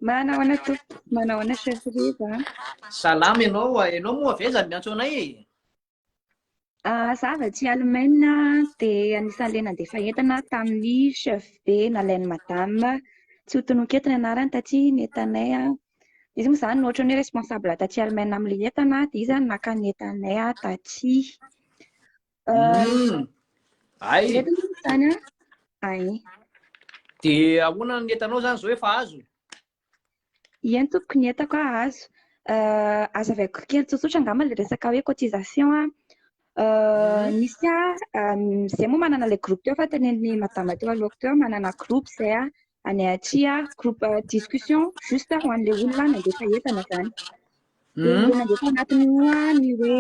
A: Manahoana tompoko?
C: Manahoana chef Riva? Salama ianao,
A: ianao moa avy aiza no miantso anay e?
C: Ah, za avy aty Alemaina dia anisan'ilay nandefa entana tamin'ny chef be nalain'ny madame tsy ho tononkety ny anarany taty ny entanay an. Izy moa izany no ohatran'ny hoe responsable taty Alemaina amin'ilay entana dia izy no naka ny entanay taty.
A: Ay.
C: Ay.
A: Dia ahoana ny entanao zany zao efa azo?
C: Ien tompoko ny entako a azo. Euh, aza avy aiko kely tsotsotra angamba le resaka hoe cotisation a. Euh, mhm. misy a euh, zay moa manana le groupe teo fa tenenin'ny madama teo alohako teo manana groupe zay a. any atsya groupe discussion juste ho an'le olona nandefa entana zany de hmm. nandefa anatiny oa ny hoe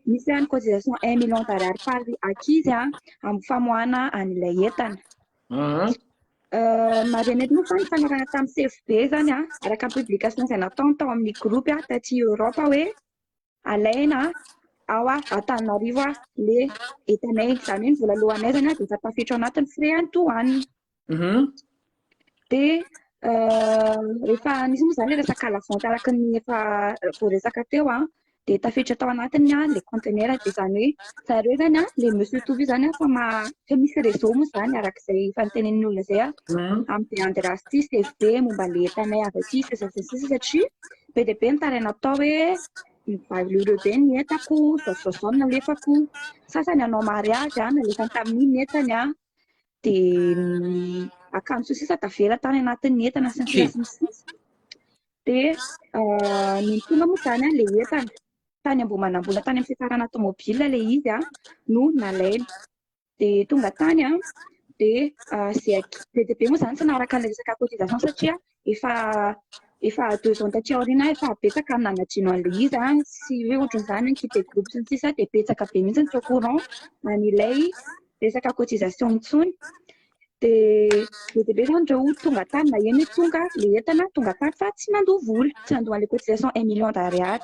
C: misy any cotisation un million d'arary par akizy a amin'ny famoahana an'ilay entana hmm. euh, marenety moa fa ny fanarana tamin'ny sefo be zany a araka ny publication izay natao tao amin'ny groupe a taty europe hoe alaina ao Antananarivo le entanay, izany hoe ny vola lohanay zany dia efa tafiditra anatin'ny frais any douane. Mhm. Dia euh, rehefa nisy moa izany resaka la vente araka ny efa voaresaka teo an, dia tafiditra tao anatiny an le conteneur, dia izany hoe zareo zany an, le monsieur Toby zany an, fa ma fa misy réseau moa izany araka izay efa nitenenin'ny olona izay an, Mhm. amin'ny Beande Rasty sy FB momba le entanay avy aty sy sisa sy sisa satria be dia be ny taraina atao hoe mivalio ireo be ny entako, zaozao ny nalefako, sasany hanao mariazy an, nalefany tamin'iny ny entany an, dia ny akanjo sy sisa tavela tany anatin'ny entana sy ny sisa sy ny sisa. Dia ah, ny mitondra moa izany an, ilay entana tany Ambohimanambola tany amin'ny fiafarana tomobila ilay izy an, no nalaina. dia tonga tany an, dia izay be dia be moa izany tsy naharaka ny resaka cotisation satria efa efa deux ans taty aoriana aho efa betsaka ny nanadino an'ilay izy an, tsy hoe ohatran'izany hoe nikipe groupe sy ny sisa dia betsaka be mihitsy ny tsy au courant an'ilay resaka cotisation intsony, dia be dia be izany ireo tonga tany na eny tonga ilay entana tonga tany fa tsy nandoa vola, tsy nandoa an'ilay cotisation un million d'ariary.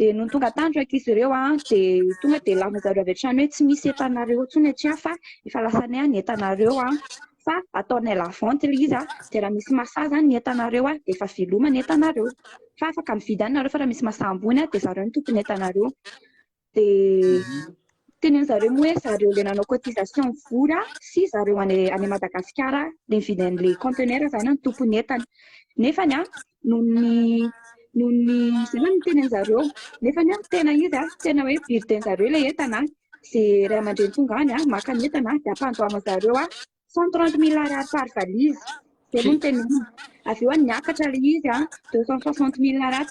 C: Dia nony tonga tany ireo ankizy ireo an, dia tonga dia laza zareo avy hatrany hoe tsy misy entanareo intsony aty an, fa efa lasanay an ny entanareo an, fa ataonay la vente ilay izy an, dia raha misy masaha izany ny entanareo an, dia efa veloma ny entanareo, fa afaka mividy any nareo fa raha misy masaha ambony an, dia zareo no tompon entanareo, dia teneny zareo moa hoe zareo ilay nanao cotisation vola sy zareo any Madagasikara ilay nividy an'ilay contenaire izany no tompon entana, nefany an, noho ny noho ny izay no niteny an'zareo nefa ny aho tena izy aho tena hoe birthday an'zareo ilay entana dia iray aman-dreny tonga any aho maka ny entana dia ampandoavana zareo aho cent trente mille ariary par valise dia aloha ny teny aminy avy eo any niakatra ilay izy aho deux cent soixante mille ariary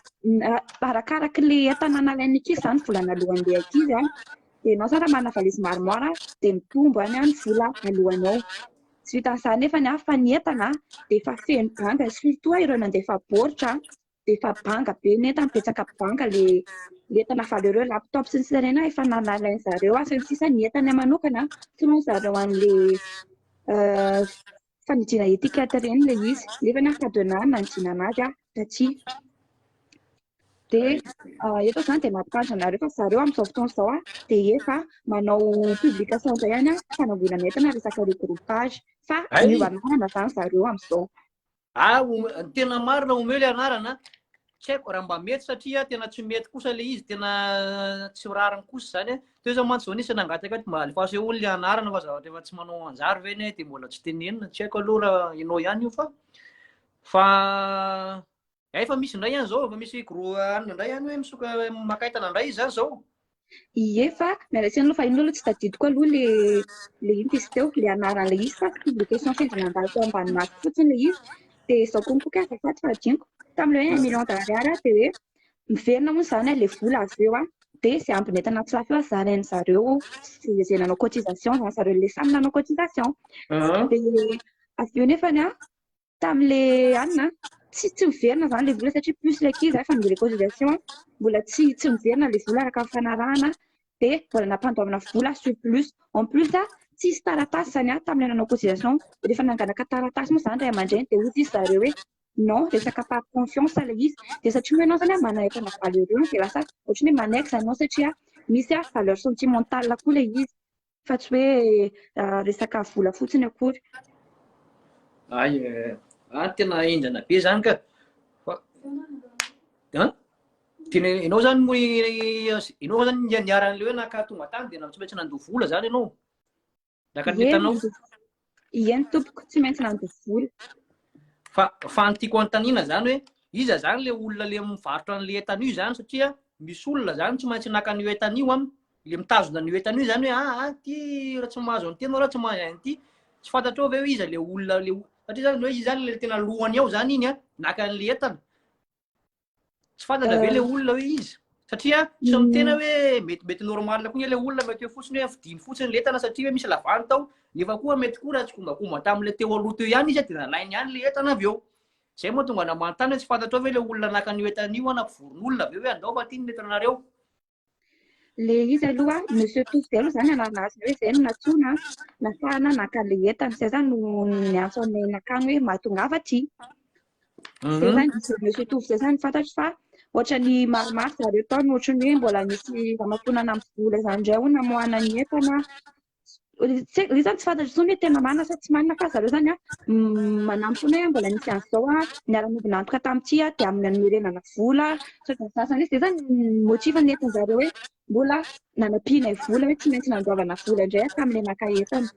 C: arakaraka ilay entana nalain'ny ankizy izany volana alohan'ilay ankizy aho dia ianao izany raha manana valise maromaro aho dia mitombo any aho ny vola alohanao Tsy vitan'izany nefa ny hafa ny entana dia efa feno banga, surtout ireo nandefa baoritra dia efa banga be ny entana, betsaka banga ilay ilay entana avy any, ireo laptop sy ny sisa ireny efa nalain'ny zareo ary ny sisa ny entana manokana tokony ho zareo an'ilay fandidiana étiquette ireny ilay izy nefa ny ankadena nanidinana azy taty. dia eto izany dia mampitandrina anareo fa zareo amin'izao fotoana izao an dia efa manao publication indray any fanangonana entana resaka regroupage fa miova anarana izany zareo amin'izao ah
A: tena marina omeo le anarana tsy haiko raha mba mety satria tena tsy mety kosa le izy tena tsy rariny kosa izany teo zao mantsy zao nisy nangataka ato mba alefaso eo le anarana fa zavatra efa tsy manao anjary ve ne dia mbola tsy tenenina tsy haiko aloha raha ianao ihany io fa fa Efa misy indray any zao, efa misy gros anona indray any hoe misoka maka entana indray izy zany zao. Ie fa
C: miala tsiny aloha fa iny aloha tsy tadidiko aloha le le ino izy teo le anaran'ilay izy fa publication sendra nandalo tao ambany masoko fotsiny le izy de izao koa mikoky azafady fa adinoko tamin'le hoe un million d'ariary aho de hoe miverina hono izany a le vola avy eo a de izay ambiny entana tsy lafo eo a zarain'ny zareo sy izay nanao cotisation zany zareo le samy nanao cotisation de avy eo nefany a tamle anina tsy tsy miverina zany le vola satria plus le ankizy zay fa ny reconciliation mbola tsy tsy miverina le vola araka ny fanarahana dia mbola nampandoavana vola sur plus en plus a tsisy taratasy zany a tamle nanao cotisation rehefa nanganaka taratasy moa zany ray aman-dreny dia hoy izy zareo hoe non resaka par confiance le izy dia satria moa ianao zany a manana entana valeureux dia lasa ohatran'ny hoe manaiky zany ianao satria misy a valeur sentimentale koa le izy fa tsy hoe resaka vola fotsiny akory. Ay,
A: ah, tena enjana be zany ka. Fa, tena ianao zany moa ianao zany niaran'ilay hoe naka tonga tany dia tsy maintsy nandoa vola zany ianao. Naka
C: ny
A: entanao.
C: Ieny
A: tompoko,
C: tsy maintsy nandoa vola. Fa
A: fa ny tiako anontaniana izany hoe iza izany ilay olona ilay mivarotra an'ilay entana io izany satria misy olona izany tsy maintsy naka an'io entana io an, ilay mitazona an'io entana io izany hoe ah ah ty raha tsy mahazo an'ity ianao raha tsy mahazo an'ity. Tsy fantatrao ve hoe iza ilay olona ilay o- satria izany hoe izy izany ilay tena lohany ao izany iny an, naka an'ilay entana. tsy fantatra ve le euh. olona hoe izy satria tsy amin'ny tena hoe metimety normal koa ny le olona mety hoe fotsiny hoe fidiny fotsiny le entana satria hoe misy lavany tao nefa koa mety koa raha tsy kombakomba tamin'le teo aloha teo ihany izy dia nalainy ihany le entana avy eo zay moa tonga namanontany hoe tsy fantatrao ve le olona naka an'io entana io na mpivoron'olona avy eo hoe andao fa ty ny entanareo
C: Le izy aloha Monsieur Tovo izay aloha izany anarana azy hoe izay no nantsoina nafahana naka le entana izay izany no niantso anay nakany hoe mahatongava aty mhm. zay izany diso Monsieur Tovo izay izany fantatro fa ohatra ny maromaro zareo tao no ohatran'ny hoe mbola misy ramakonana amin'ny vola izany indray ho namoahana ny entana Ry zany tsy fantatro intsony hoe tena manana sa tsy manana fa zareo zany manampy foana hoe mbola nisy an'izao a niara-nivona antoka tamin'ity a dia amin'ny hanomerenana vola sy ny sasany izay zany motif nentin-dry zareo hoe mbola nanampianay vola hoe tsy maintsy nandoavana vola indray aho tamin'ilay naka entana.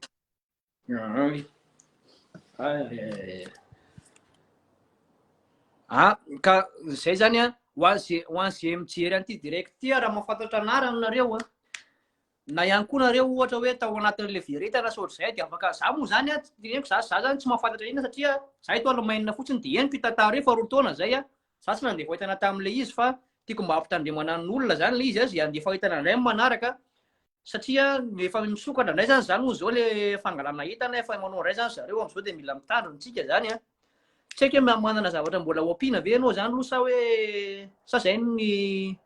A: Ah, ka izay zany a ho an'izay mijery an'ity direct ity raha mahafantatra anarany nareo a. Na ihany koa nareo ohatra hoe tao anatin'ilay veritana sy ohatr'izay dia afaka, za moa zany a, henoko za za zany tsy mahafantatra inona satria za eto Alemaina fotsiny dia henoko io tantara io faharoa taona zay a, za tsy nandefa entana tamin'ilay izy fa tiako mba hampitandremana ny olona zany ilay izy a, zay handefa entana indray amin'ny manaraka satria efa misokatra indray zany zany hoy zao le fangalana entana efa manao indray zany zareo am'zao dia mila mitandro ny tsika zany a. Tsy haiko hoe manana zavatra mbola ho ampiana ve ianao zany aloha sa hoe sa zay ny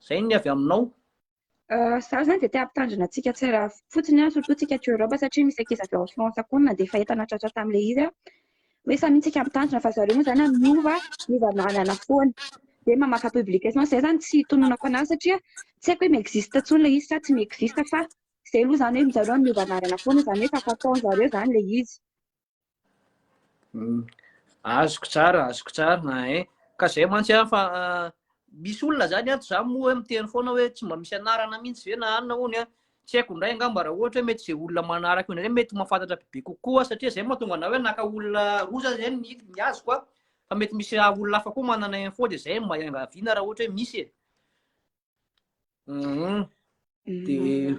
A: zay ny avy aminao? Izaho
C: izany dia te hampitandrina antsika tsy raha fotsiny aho, surtout isika aty Europe satria misy ankizy avy ao France koa na dia efa entana tratra tamin'ilay izy aho. Hoe samy isika mitandrina fa zareo moa izany an, miova, miova lalana foana. Dia mamaka publication, izay izany tsy itononako an'ahy satria tsy haiko hoe mi-existe intsony ilay izy sa tsy mi-existe fa izay aloha izany hoe zareo miova anarana foana izany hoe efa fataon-dry zareo izany ilay izy.
A: Azoko tsara, azoko tsara ein. Ka zay mantsy an fa misy olona zany ato za moa hoe miteny foana hoe tsy mba misy anarana mihitsy ve na anona hono an. Tsy haiko indray angamba raha ohatra hoe mety zay olona manaraka io indray mety mahafantatra bebe kokoa satria zay mahatonga anah hoe naka olona roa za zay ny ny azoko an. Fa mety misy olona hafa koa manana info de zay mba iangaviana raha ohatra hoe misy e. Mhm.
C: Dia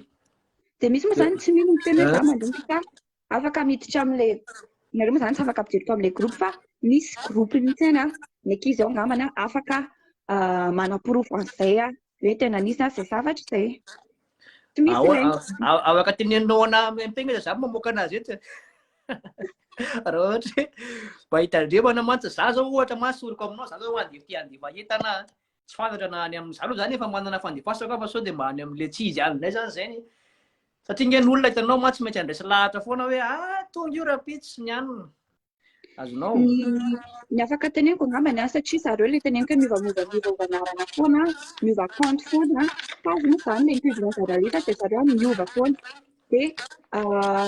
C: Dia misy moa izany tsy mino miteny hoe za mandroso fa afaka miditra amin'ilay nareo moa izany tsy afaka ampidiriko amin'ilay groupe fa misy groupe mihitsy any an, ny ankizy ao angambany an, afaka ah, manaporofo an'izay an, hoe tena nisy an, izay zavatra izay. Tsy misy Ao- ireny. ao- ao- Afaka tenenao
A: ana miampegna izy, za mamoaka anazy eto. Raha ohatra hoe mba hitandremana mantsy za zao ohatra ma soroko aminao za zao andeha ty andeha mahita ana. tsy fantatra na any amin'izany aloha zany efa manana fandefasako aho fa sao dia mba any amin'ny letchi izy any indray zany izay ny satria nge ny olona hitanao mantsy maintsy handraisy lahatra foana hoe ah tonga io rapitsy ny anina azonao
C: ny afaka teneniko angambany an satria zareo le teneniko hoe miova miova miova miova anarana foana miova compte foana tazony izany le mitodina zareo rehetra dia zareo miova foana Dia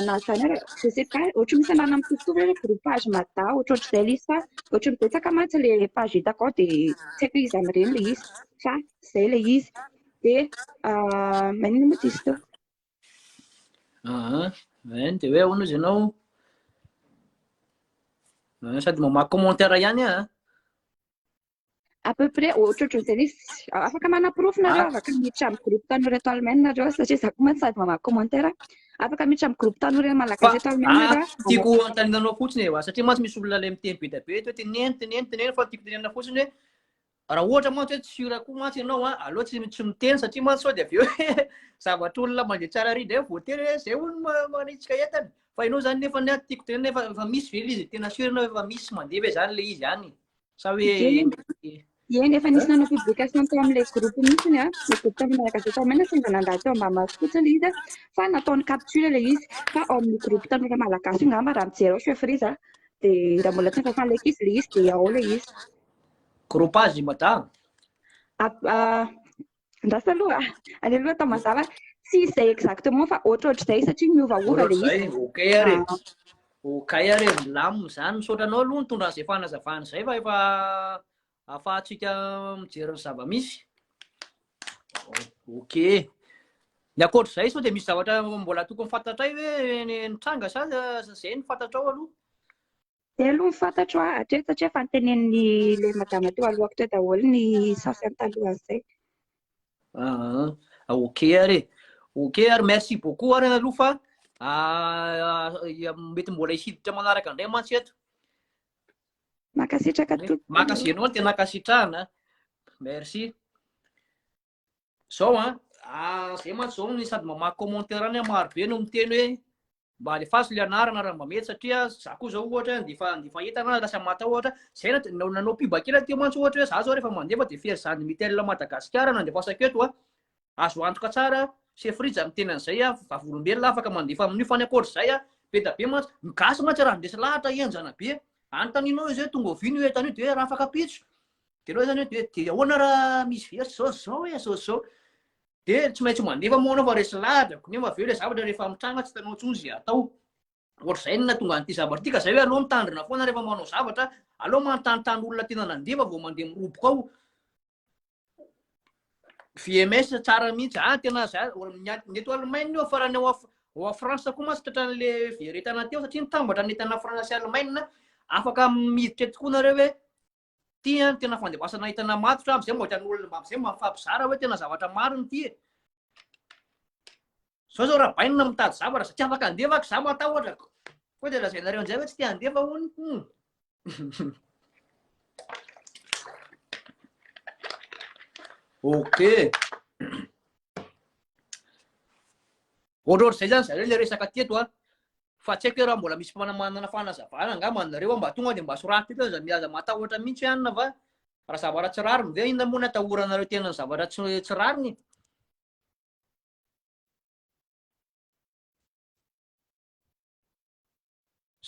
C: na izany aza, je sais pas, ohatran'ny misy anarana mitovitovy hoe hoe groupage mada, ohatrohatr'izay ilay izy fa ohatran'ny betsaka mantsy ilay page hitako ao dia tsy haiko hoe iza amin'ireny ilay izy fa izay ilay izy. Dia maninona moa diso teo? Aha,
A: en dia hoe ahoana izy ianao? Sady mamaky commentaire ihany an!
C: à peu près ohatrohatry ny izay izy afaka manaporofo nareo afaka miditra amin'ny groupe tanora eto Allemagne nareo satria za koa mantsy sady mamaky commentaire afaka miditra amin'ny groupe tanora eto malagasy eto Allemagne nareo tiako antaninanao
A: fotsiny e satria mantsy misy olona ilay miteny be dia be eto hoe teneno teneno teneno fa tiako tenenina fotsiny hoe raha ohatra mantsy hoe tsura koa mantsy ianao a aleo tsy tsy miteny satria mantsy sao dia avy eo zavatra olona mandeha tsara ary indray voatery hoe zay olona manitsika entany fa ianao zany nefa tiako tenenina efa misy ve izy tena surina efa misy mandeha ve zany le izy any Sa hoe
C: Eny, efa nisy nanao publication tao amin'ilay groupe mihitsy ny ahy, le groupe tao amin'ilay gazety tao Maina, sendra nandalo tao Ambamahazo fotsiny ilay izy fa nataony capture ilay izy, fa ao amin'ny groupe tanora malagasy io angamba raha mijery ao chef Riza dia raha mbola tsy nifafan like izy ilay izy dia ao ilay izy. Groupe
A: azy i Mada?
C: Andrasa aloha, any aloha atao mazava. Tsy izay exactement fa ohatrohatr'izay satria miovaova le izy. OK ary. Ah.
A: OK ary milamina izany. Misaotra anao aloha nitondra an'izay fanazavana izay fa efa afahantsika mijery ny zava-misy. OK. Ny ankoatr'izay sao dia misy zavatra mbola tokony fantatray hoe nitranga sa izay ny fantatrao aloha? Izay
C: aloha no fantatro an, hatreto satria efa notenenin'ilay madama teo alohako teo daholo ny sasany talohan'izay.
A: Ah, ok ary e. Ok ary merci beaucoup ary aloha fa mety mbola hisiditra manaraka indray mantsy eto. Mankasitraka
C: tompoko. Mankasitraka ianao no tena
A: ankasitrahana. Merci. Zao an, ah, zay mantsy zao ny sady mamaky commentaire any maro be no miteny hoe mba alefaso le anarana raha mba mety satria za koa zao ohatra de fa de fa hita na lasa matahotra zay na nanao nanao piba kely aty mantsy ohatra hoe za zao rehefa mandefa de fery zany mitel madagasikara nandefasako eto a azo antoka tsara se frija miteny an'izay a vavolombelona afaka mandefa amin'io fa ny akoatra zay a be da be mantsy ny gasy mantsy raha ndesy lahatra henjana be any taninao izy hoe tonga ovinio etanio de raha afaka pitso Tenao zany hoe de ahoana raha misy very zao zao e zao zao de tsy maintsy mandefa moa anao fa resy ladrako nefa avy eo le zavatra rehefa mitranga tsy hitanao intsony zay atao ohatr'izay no nahatonga an'ity zavatra ity ka zay hoe aleo mitandrina foana rehefa manao zavatra aleo manontanontany olona tena nandefa vao mandeha miroboka ao VMS tsara mihitsy ah tena za ny eto Allemagne io farany ao ao à France koa mantsy tratran'le very entana teo satria nitambatra ny entana France sy Allemagne afaka miditra tokoa nareo hoe Ity no tena fandebasana entana matotra amizay mba hitan'ny olona mba amizay mba mifampizara hoe tena zavatra marina ity e. Zao zao rabainina mitady zavatra za tsy afaka handefa ak za matahotra ko koa de lazainareo anjay hoe tsy te handefa hono hum. Ok. Ohatrohatr'izay zany zareo le resaka teto a. Fa tsy haiko hoe raha mbola misy mpana manana fanazavana angamba anareo mba tonga dia mba soratro eto aza aza matahotra mihitsy hoe anona va raha zavatra tsy rariny ve inona moa ny atahoranareo tena ny zavatra tsy tsy rariny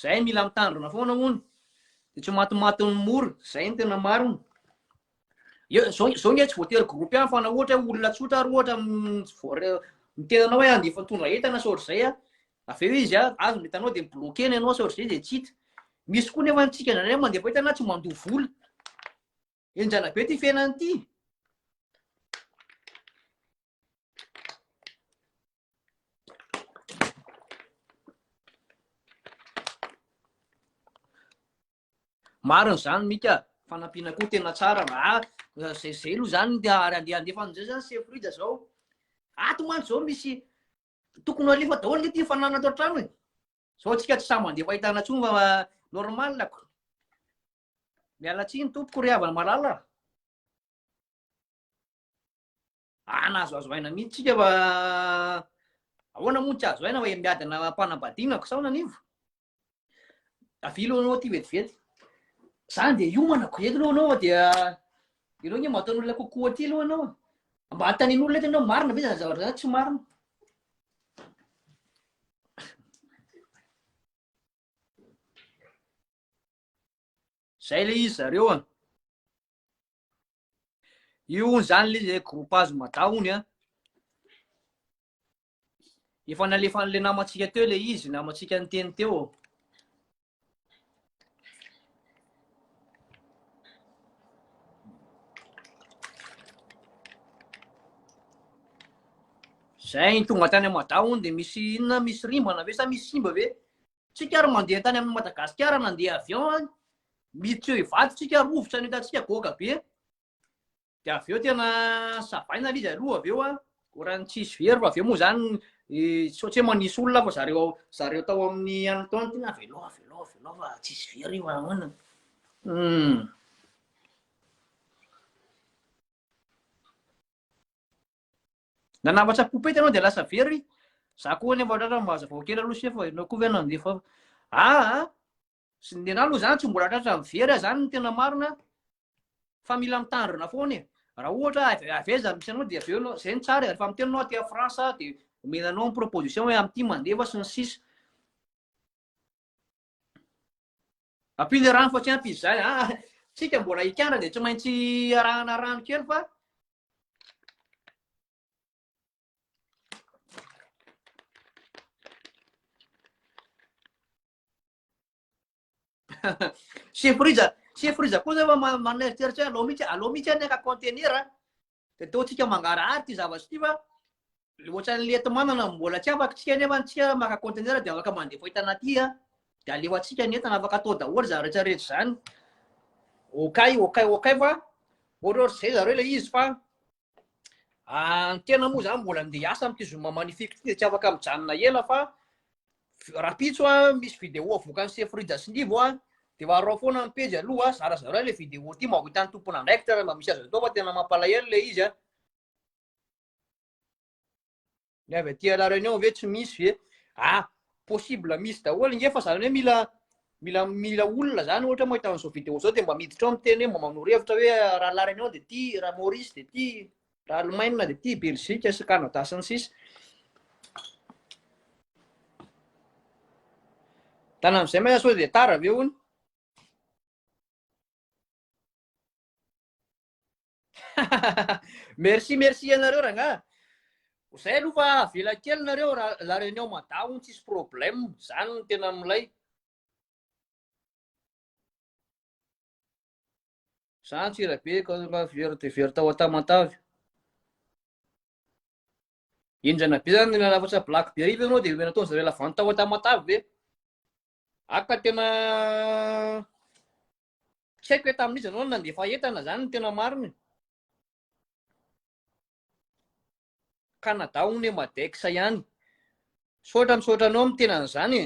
A: zay mila mitandrina foana hono de tsy matimatin'ny mora zay ny tena marina Zao zao nge tsy voatery groupe ihany fa na ohatra hoe olona tsotra ary ohatra miteny anao hoe andefa mitondra entana sao ohatr'izay a avy eo izy a azo ny entanao dia mi-bloquer ny anao sao ohatr'izay dia tsy hita misy koa nefa antsika indraindray mandefa entana tsy mandoa vola enjana be ty fiainana ity Marina zany Mika, fanampiana koa tena tsara ah, zay zay aloha zany ary andeha andefa an'izay zany Chef Rida zao. Ato mantsy zao misy tokony alefa daholo nge ty fanana ato an-trano e. Zao tsika tsy sahy mandeha fahitana tsony fa normal ako. Miala tsiny tompoko ry havana malala. Ana azo azo aina mihitsy tsika fa ahoana moa tsy azo aina fa miadana am-panambadiana ko sao nanivo avilo anao ty vetivety zany dia hiomana ko eto aloha anao fa dia ianao nge mataon'olona kokoa aty aloha anao mba hatanin'olona eto anao marina ve zany zavatra zany tsy marina zay le izy zareo a Io hono izany le izay groupage mada hono an. Efa nalefan'ilay namantsika teo ilay izy, namantsika niteny teo. Zay tonga tany Mada hono dia misy inona misy rimbana ve sa misy simba ve? Tsika ary mandeha tany amin'ny Madagasikara nandeha avion any, miditra eo Ivato tsika, rovitra no hitantsika, goaka be. Dia avy eo tena savaina ilay izy aloha avy eo a, oran'ny tsisy very fa avy eo moa zany tsy ohatry hoe manisy olona fa zareo zareo tao amin'ny any tao tena avelao avelao avelao fa tsisy very io ahoana. Nanambatra poupette ianao dia lasa very. Za koa anefa ohatrany raha mahazavao kely aloha chef, ianao koa ve nandefa aa sy ny nenahy aloha zany tsy mbola tratra ny very zany no tena marina fa mila mitandrina foana e. Raha ohatra avy aiza no misy anao dia avy eo zay ny tsara e. Rehefa miteny ianao aty France dia omena anao ny proposition hoe amin'ity mandefa sy ny sisa. Ampinga rano fa tsy ampy izy izany. Ah, tsika mbola hikandra dia tsy maintsy arahana rano kely fa Chef Riza, Chef Riza koa zay fa maneritreritra hoe alao mihitsy, alao mihitsy ny haka contenir. Dia toa tsika mangarahary ity zavatra ity fa ohatran'ny lety manana no mbola tsy afaka tsika nefa antsika maka conteneur dia afaka mandefa entana aty a dia alefantsika ny entana afaka atao daholo izany rehetra rehetra izany okay okay okay fa ohatra ohatra izay zareo ilay izy fa ny tena moa izany mbola andeha hiasa amin'ity zoma magnifique ity dia tsy afaka mijanona ela fa Rapitso an, misy vidéo avoakan'i Sefo Rija sy Nivo an, de varao foana ny pejy aloha an, zarazarao ilay vidéo ity mba ho hitan'ny tompon'andraikitra raha mba misy azo atao fa tena mampalahelo ilay izy an. Ny avy aty à la réunion ve tsy misy ve? Ah, possible misy daholo nge fa zany hoe mila mila mila olona zany ohatra mahita an'izao vidéo zao de mba miditra ao miteny hoe mba manoro hevitra hoe raha la réunion de ty, raha Maurice de ty. Raha Alemaina dia ity Belzika sy Kanada sy ny sisa. Tana amin'izay ma sao dia tara ve hono? merci merci ianareo rangaha. Zay aloha fa avela kely nareo raha la réunion mada hono tsisy problème, zany no tena milay. Za Antsirabe ka raha very dia very tao Antamatave. Indrana be zany na lafatra black be ariva ianao dia omena tao zareo lavanty tao Antamatave ve? Aka tena tsy haiko hoe tamin'iza ianao no nandefa entana zany no tena marina. Canada hono e Madex ihany. Misaotra misaotra anao miteny an'izany e.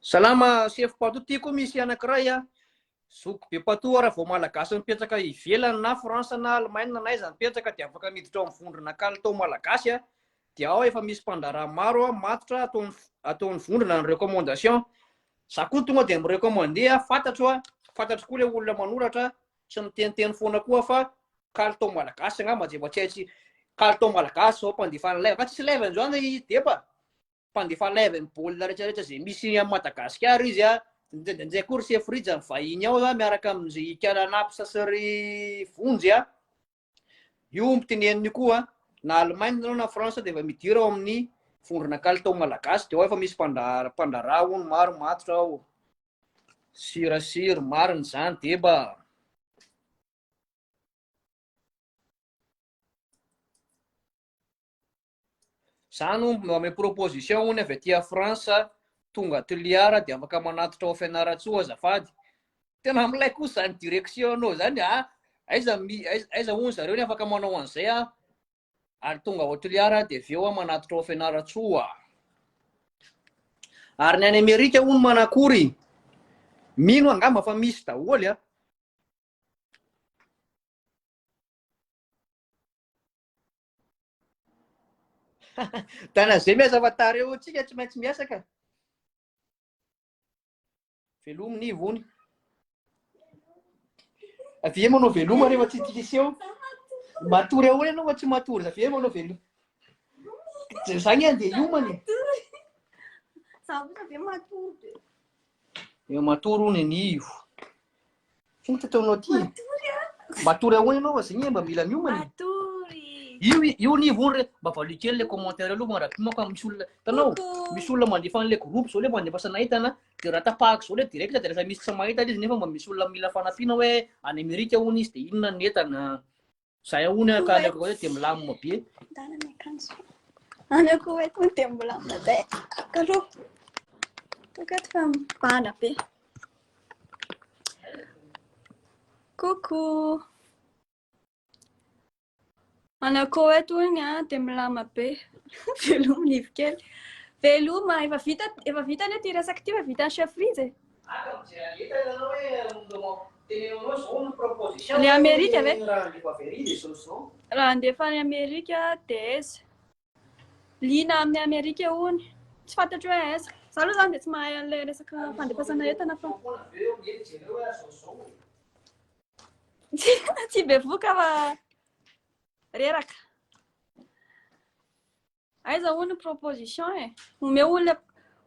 A: Salama sefo patou ty koa misy anankiray a zoky be patou raha vao malagasy mipetraka ivelany na France na Allemagne na aiza mipetraka dia afaka miditra ao amin'ny vondrona kalitao malagasy a dia ao efa misy mpandraharaha maro a matotra ataony ataony vondrona ny recommandation za koa tonga dia mi recommande a fantatro a fantatro koa le olona manoratra tsy miteniteny foana koa fa kalitao malagasy angamba zay mba tsy haitsy kalitao malagasy zao mpandefana live ka tsisy live an'izao anga i depa mpandefa live ny baolina rehetrarehetra zay misy am madagasikara izy a ndraindray koa ry sefrija ny vahiny ao a miaraka am'zay ikala napsa sy ry vonjy a Io omby teneniny io koa, na Allemagne ianao na France dia efa midira ao amin'ny vondrona kalitao malagasy dia ao efa misy mpandra- mpandraharaha hono maro matotra ao. Sirasiry, marina izany deba. Za no ame proposition hono avy aty France tonga Toliara dia afaka manatitra ao Fianarantsoa azafady. Tena milay kosa zany direction anao zany a. Aiza aiza hono zareo ny afaka manao an'izay a. Ary tonga ao Toliara dia avy eo a manatitra ao Fianarantsoa. Ary ny any Amerika hono manakory? Mino angamba fa misy daholo a. Dana zay miasa fa tara eo tsika tsy maintsy miasa ka. Velomy ny ivony. Avy eo manao veloma rehefa tsy tiseho. Matory ahoana ianao fa tsy matory. Avy eo manao veloma. Zany andeha iomana e. Za kosa ve matory be. Eo matory hono ny ivo. Finta teo nao ty. Matory ahoana ianao aza igny mba mila miomana. Matory. Io io ni vony re mba valio kely le commentaire aloha mara mako fa misy olona tanao misy olona mandefa an'le groupe zao le mandefasana entana de raha tapahako zao le direct de lasa misy tsy mahita izy nefa mba misy olona mila fanampiana hoe any Amerika hono izy de inona ny entana Zay ahoana aho ka any akoa dia milamina be. Dala ny akanjo. Any
D: akoa eto dia milamina be. Kalo. Tokato fa mibana be. Coucou. Any akoa eto ny a dia milamina be. Veloma ny kely. Veloma efa vita efa vita ny ity resaka ity fa vita chef Fritz e. Ah, comme tu as dit, t'as donné un Ny Amerika ve? Raha handefa any Amerika dia aiza? Liana amin'ny Amerika hono. Tsy fantatro hoe aiza. Za aloha zany dia tsy mahay an'ilay resaka fandefasana entana fa. Tsy bevoka fa reraka. Aiza hono proposition e? Omeo olona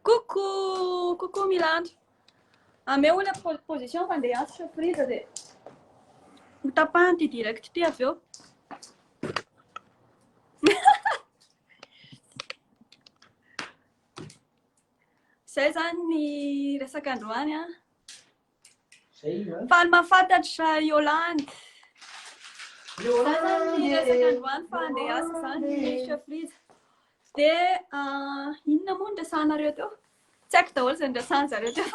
D: coucou coucou Milando. Ameo olona proposition fa ndeha afitra priza dia ho tapahany ty direct ty avy eo. Zay zany ny resaka androany an. Faly mahafantatra Yolande. Yolande ny resaka androany fa andeha asiko zany chef Riza. Dia ah, inona moa ny resahanareo teo? Tsy haiko daholo izay niresahan'ny zareo teo.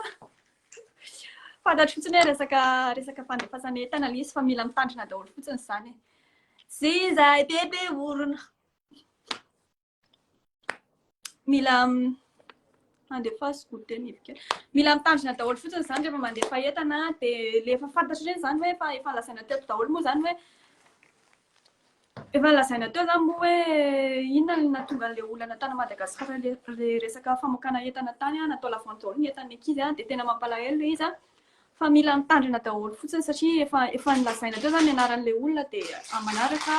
D: Fantatro fotsiny hoe resaka resaka fandefasana entana ilay izy fa mila mitandrina daholo fotsiny izany. Sy izay bebe orona. Mila andefaso goûter ny bibikely. Mila mitandrina daholo fotsiny izany rehefa mandefa entana dia ilay efa fantatro ireny izany hoe efa efa lazaina teto daholo moa izany hoe efa lazaina teo izany moa hoe inona no nahatonga an'ilay olana tany Madagasikara ilay resaka famokana entana tany an, natao la vente daholo ny entan'ny ankizy an, dia tena mampalahelo ilay izy an. Fa mila mitandrina daholo fotsiny satria efa efa nolazaina teo zany ny anaran'ilay olona dia amin'ny manaraka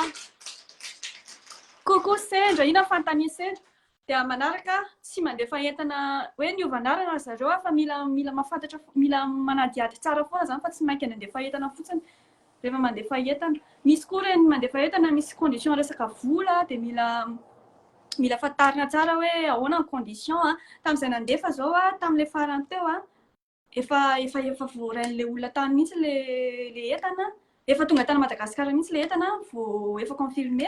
D: Coucou sendra, ino fanontanian'i sendra? Dia amin'ny manaraka tsy mandefa entana hoe niova anarana ry zareo aho fa mila mila mahafantatra fo- mila manadihady tsara foana zany fa tsy maika ny handefa entana fotsiny rehefa mandefa entana. Misy koa ireny mandefa entana misy condition resaka vola dia mila mila fantarina tsara hoe ahoana ny condition a. Tamin'izay nandefa izao aho tamin'ilay farany teo a, efa efa efa voarain'le olona tany mihitsy le le entana efa tonga tany Madagascar mihitsy le entana vo efa confirmé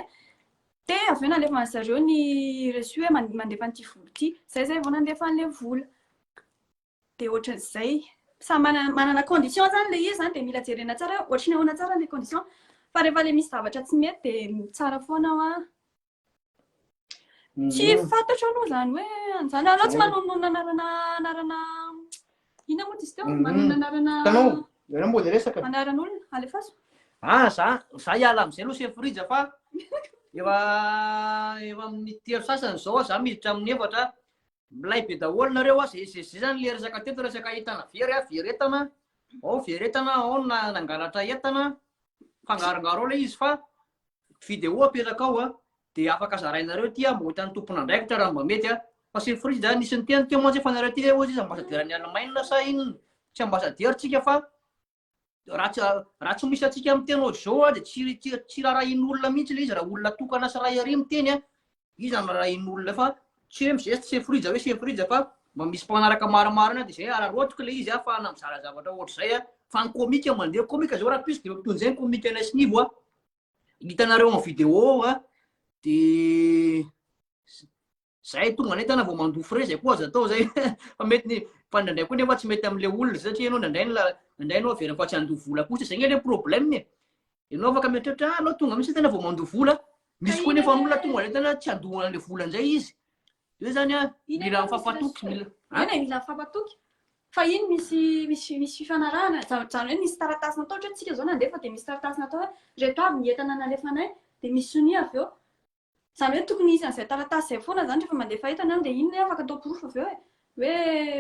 D: de avy eo nalefa an'i zareo ny reçu hoe mandefa an'ity vola ity zay zay vao nandefa an'le vola de ohatran'izay samy manana manana condition zany le izy zany de mila jerena tsara hoe ohatry ny ahoana tsara le condition fa rehefa le misy zavatra tsy mety de tsara foana hoa Tsy mhm. fantatro aloha zany hoe an'izany. Anao tsy manonona anarana anarana ina moa izy teo? Mhm. Manonona anarana Tanao, ianao mbola resaka. Anaran'olona, alefaso. Ah, za
A: za hiala amin'izay aloha chef Rija fa efa efa amin'ny telo sasany izao za miditra amin'ny efatra. Milay be daholo nareo a, zay zay zany le resaka teto resaka entana very a, very entana. Ao very entana, ao nangalatra entana. Fangarongaro ao ilay izy fa Video apetraka ao dia afaka zarainareo ity mba ho hitan'ny tompon'andraikitra raha mba mety fa c'est fri zany nisy niteny teo mantsy fa nareo ity ve ozy izy ambasadiera ny Allemagne sa inona tsy ambasadiera tsika fa raha tsy raha tsy misy antsika miteny ozy zao dia tsy tsy rarahin'olona mihitsy le izy raha olona tokana sy raha ery miteny Iza no rahin'olona fa tsy hoe mizesta se frija hoe se frija fa mba misy mpanaraka marimarina de zay araraotiko le izy ahafahana mizara zavatra ohatr'izay a! Fa ny komika mandeha komika zao raha plus de toy ny zay ny komikanay sy Nivo a! Hitanareo en vidéo ao a! De zay tonga nentana vao mandoa frais zay koa aza atao zay fa mety ny fa ndraindray koa nefa tsy mety am'le olona satria ianao ndraindray ny la- ndraindray ianao averina fa tsy handoa vola kosa zay nge le problème e! Ianao afaka mieritreritra, ah, ianao tonga mihitsy tena vao mandoa vola. Misy koa nefa olona tonga dia tena tsy handoa an'ilay vola an'izay izy. Dia hoe izany, mila mifampatoky, mila... Inona mila
D: mifampatoky? Fa iny misy misy misy fifanarahana, izany izany hoe misy taratasy natao, ohatra hoe isika izao nandefa dia misy taratasy natao hoe ireto avy ny entana nalefanay, dia misy sonia avy eo. Izany hoe tokony hisy an'izay taratasy izay foana izany rehefa mandefa entana aho dia iny ilay afaka atao porofo avy eo e. Hoe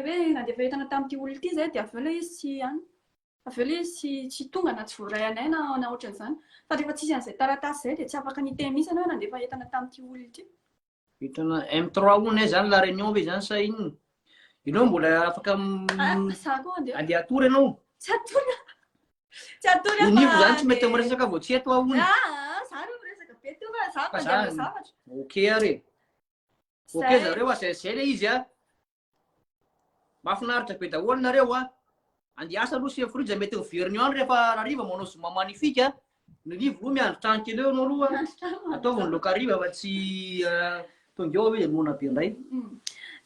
D: hoe nandefa entana tamin'ity olona ity izay dia avy eo ilay izy tsy any. Avy eo ilay izy tsy tsy tonga na tsy voaray anay na na ohatran'izany. Fa rehefa tsisy an'izay taratasy izay dia tsy afaka ny hiteny mihitsy ianao hoe nandefa entana tamin'ity olona ity. Entana
A: M3 hono e, izany La Réunion ve izany sa inona? Ianao mbola afaka andeha atory ianao. Tsy atory.
D: Tsy atory aho. Onivo zany tsy
A: mety miresaka vao tsy eto aho ony. Ah, za reo miresaka be teo fa za mandeha zavatra. Ok ary. Ok zareo a, zay zay le izy a. Mahafinaritra be daholo nareo a. Andeha asa aloha sy frija mety miverina eo any rehefa hariva manao zoma magnifique a. Milivo o, miandry trano kely eo ianao aloha a. Ataovy ny laoka hariva fa tsy tonga eo aloha dia noana be indray.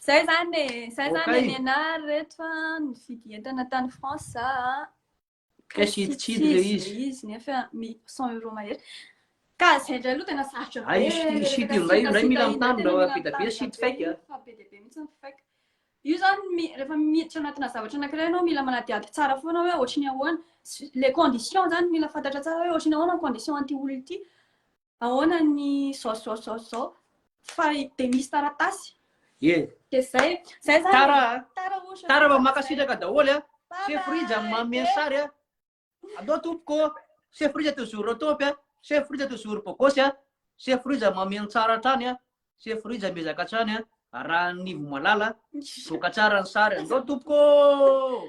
A: Izay izany
D: e, izay izany e nenary reto a, nividy entana tany France za a.
A: Cash hiditsidika ilay izy. Ilay izy nefa
D: mi- 100 euros mahery. Ka izay indray aloha tena sarotra Ay, be. io shit- io shit io indray,
A: indray mila mitandrina fa be dia be shit fake a. Fa be dia be mihitsy ny
D: fake. Io izany rehefa miditra anatina zavatra anankiray ianao mila manadihady tsara foana hoe ohatry ny ahoana les conditions izany mila fantatra tsara hoe ohatry ny ahoana ny condition an'ity olona ity, ahoana ny zao zao zao zao fa dia misy taratasy Ie. dia zay zay izany e. Tara a! Tara ohatra.
A: Tara fa mankasitraka daholo a. Bye Chef Rija bye. manome ny sary a. Allo tompoko ô! Chef Rija toujours au top a! Chef Rija toujours beau gosse a! Chef Rija mameno tsara hatrany a! Chef Rija miezaka hatrany a! Arahan'ny ivo malala, mivoaka tsara ny sary! Allo tompoko ô!